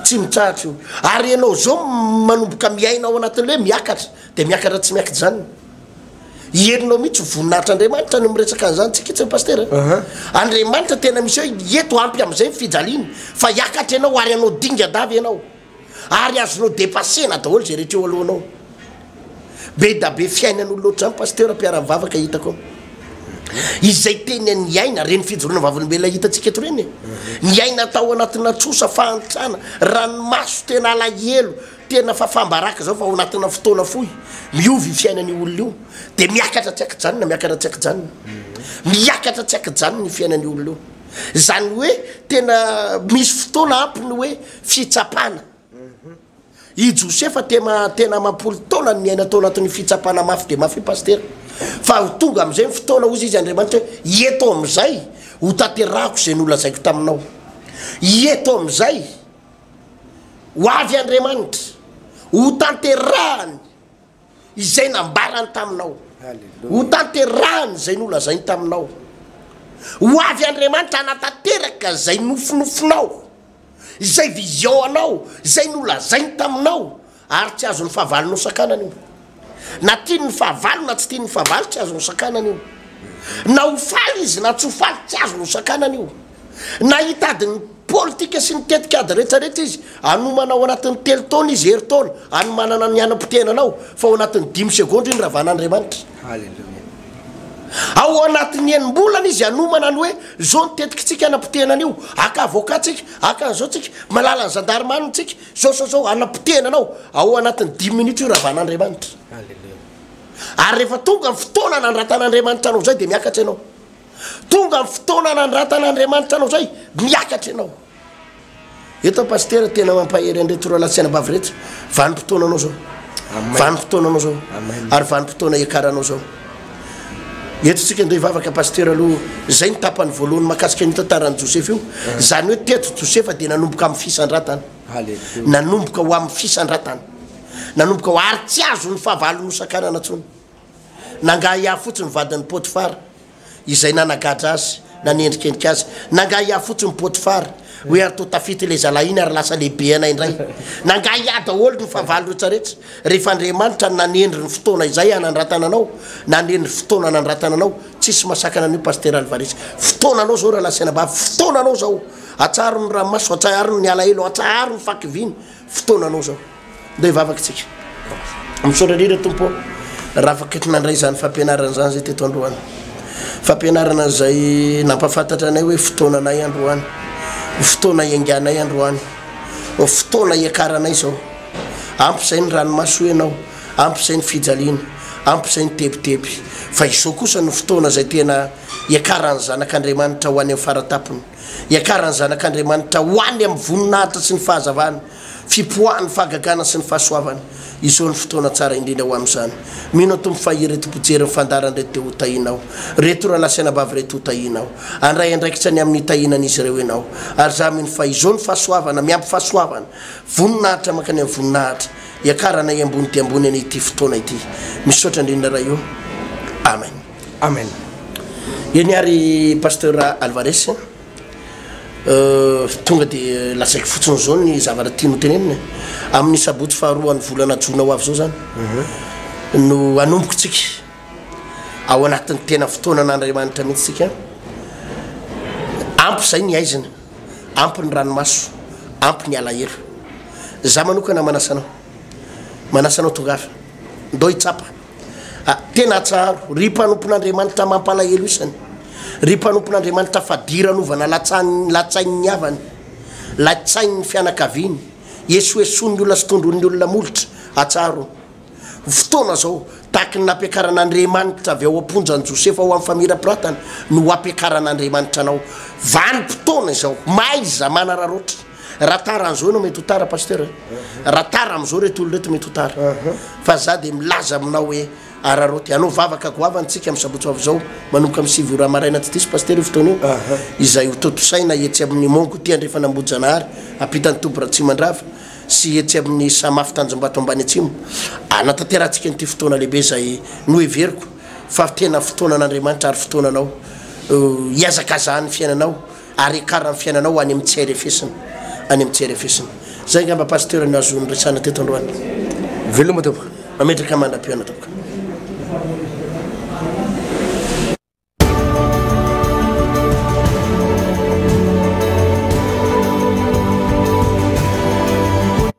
Tsy mitsahatra io. Ary ianao zao manomboka miaina ao anatin'ny hoe miakatra dia miakatra tsy miakijana. Henonao mihitsy voninahitr'Andriamanitra no miresaka an'izany tsy kitsiny Pasitera. Andriamanitra tena misy hoe eto ampy amin'izay ny fijaliana fa hiakatra ianao ary hanao dingadava ianao. ary azonao depasena daholo izay rehetra eo alohanao. Be da be fiainan'olona ohatr'izany Pasteur mpiara mivavaka hitako ao. Izay tena niaina, reny fijoroana vavolombelona hitantsika eto reny e. Niaina tao anatina trosa, fahantrana, ranomaso tena alahelo, tena fafam-baraka izao fa ao anatina fotoana fohy, miova io fiainan'io olona io. Dia miakatra tsy an-kijanona, miakatra tsy an-kijanona. Miakatra tsy an-kijanona io fiainan'io olona io. Izany hoe tena misy fotoana ampy ny hoe. Fitsapana. I Josefa tema tena amam-polo taona no niaina tao anatin'ny fitsapana mafy dia mafy Pasitera. Fa ho tonga amin'izay ny fotoana, hozy izy Andriamanitra hoe, Ieto amin'izay, ho tanterahako izay nolazaiko taminao. Ieto amin'izay, ho avy Andriamanitra, ho tanterahany. izay nambarany taminao, ho tanterahany izay nolazainy taminao. Ho avy Andriamanitra hanatanteraka izay nofinofinao, izay vision anao, izay nolazainy taminao, ary tsy azon'ny fahavalo nosakanana io. Na tiany ny fahavalo na tsy tiany ny fahavalo, tsy azo nosakanana io. Na ho faly izy na tsy ho faly, tsy azo nosakanana io. Na hitady ny politika sy ny tetikady rehetrarehetra izy, hanomana ao anatin'ny telo taona izy herintaona hanomanana ny hanam-poteana anao, fa ao anatin'ny dimy segondra iny Ravanandriamanitra. Haleloia. Ao anatin'ny enim-bolana izy hanomana ny hoe izao ny tetikintsika hanam-poteana an'io, haka avocat tsika, haka an'izao tsika, malala ny zandarmany tsika, izao izao izao, hanam-poteana anao, ao anatin'ny dimy minitra io Ravanandriamanitra. Haleloia. Ary rehefa tonga ny fotoana nandratan'Andriamanitra anao izay dia miakatra ianao. Tonga ny fotoana hanandratan'Andriamanitra anao zay, miakatra ianao. Eto Pasitera tena mampahery an'ireto roalahy sy anabavy ireto, vanim-potoananao zao. Vanim-potoananao zao. Ary vanim-potoana iakaranao zao. Eto tsika andeha hivavaka Pasitera aloha, zay ny tapany voalohany makasika an'io tantaran'i Josefa io. Zany hoe teto Josefa dia nanomboka amin'ny fisandratana. Nanomboka ho amin'ny fisandratana. Nanomboka ho ary tsy azon'ny fahavalony hosakanana tsony. Nangaha hiahy fotsiny ny vadin'i Potifara, izay nanagadra azy, na niendrikendrika azy. Nangaha hiahy fotsiny Potifara, hoe ary toa tafita ilay zalahy iny ary lasa lehibe anay indray. Nangaha hiahy daholo ny fahavalo rehetrarehetra, rehefa Andriamanitra no nanendry ny fotoana izay hanandratana anao, nanendry ny fotoana hanandratana anao, tsisy masakana an'io Pasitera Alvarez. Fotoananao zao Ralahy Senabavy, fotoananao zao. Atsaharo ny ranomaso, atsaharo ny alahelo, atsaharo ny fahakiviana, fotoananao zao mba hivavaka isika misaotra indrindra tompo ô raha afaka nandray izany fampianarana izany zay teto androany fampianarana izay nampafantatra anay hoe fotoananay androany fotoana ianganay androany fotoana iakaranay zao ampy izay ny ranomaso ianao ampy izay ny fijaliana ampy izay ny tebiteby fa izao kosa ny fotoana izay tena iakaran'ny zanak'andriamanitra ho any amin'ny faratapony hiakaran'ny zanak'Andriamanitra ho any amin'ny voninahitra sy ny fahazavany, fipoahany, fahagagana sy ny fahasoavany. Izao no fotoana tsara indrindra ho amin'izany. Mino an Tompo fa ireto mpijery ny fandaharana ireto dia hotahianao. Ireto rahalahy sy anabavy ireto hotahianao. Handray andraikitra ny amin'ny hitahianan'izy ireo ianao. Ary izaho mino fa izao no fahasoavana miampy fahasoavana, voninahitra mankany amin'ny voninahitra, hiakaranay ambony dia ambony an'ity fotoana ity. Misaotra indrindra Ray o. Amen. Amen eny ary pasteur Alvarez tonga de lazaiko fotsiny zao ny zavatra tiany hotenenina e. amin'ny sabotsy faharoan'ny volana jona ho avy zao zany mhm. no anomboko tsika ao anatin'ny tena fotoana an'andriamanitra mihitsy tsika ampy zay ny aizina ampy ny ranomaso ampy ny alahelo za manokana manasanao manasanao tonga avy ndao hitsapa Ah tena atsaharo ry mpanompon'Andriamanitra mampalahelo isany ry mpanompon'Andriamanitra fadiranovana latsain'ny latsain'ny havany latsain'ny fianakaviany esoesoan'ny olona sy tondroin'ny olona molotra atsaharo fotoana zao tahaky ny nampiakaran'Andriamanitra avy ao am-ponja an'i Josefa ho amin'ny famirapiratana no hampiakaran'Andriamanitra anao vanim-potoana izao maiza manararaotra Raha tara an'izao ianao mety ho tara Pasteur eh. Raha tara amin'izao ireto olona ireto mety ho tara. Fa za dia milaza aminao hoe araraoty. Hanao vavaka goavana tsika amin'ny sabotsy ho avy izao manomboka amin'ny sivy ora maraina tsy diso Pasteur io fotoana io. Izay ho tontosaina etsy amin'ny Mont Goûter andrefana Ambohijanahary ampitan'ny toby Ratsimandrava sy etsy amin'ny Samafo Tanjombato ambany atsimo. Hanatanterahantsika an'ity fotoana lehibe izay noheveriko fa tena fotoanan'Andriamanitra ary fotoananao hiazakazahan'ny fiainanao Ary ekara ny fiainanao any amin'ny tsy airefesina, any amin'ny tsy airefesina. Zay angamba Pasteur no azo niresahana teto androany. Veloma tompoko. Mametraka mandra-pihaona tompoko.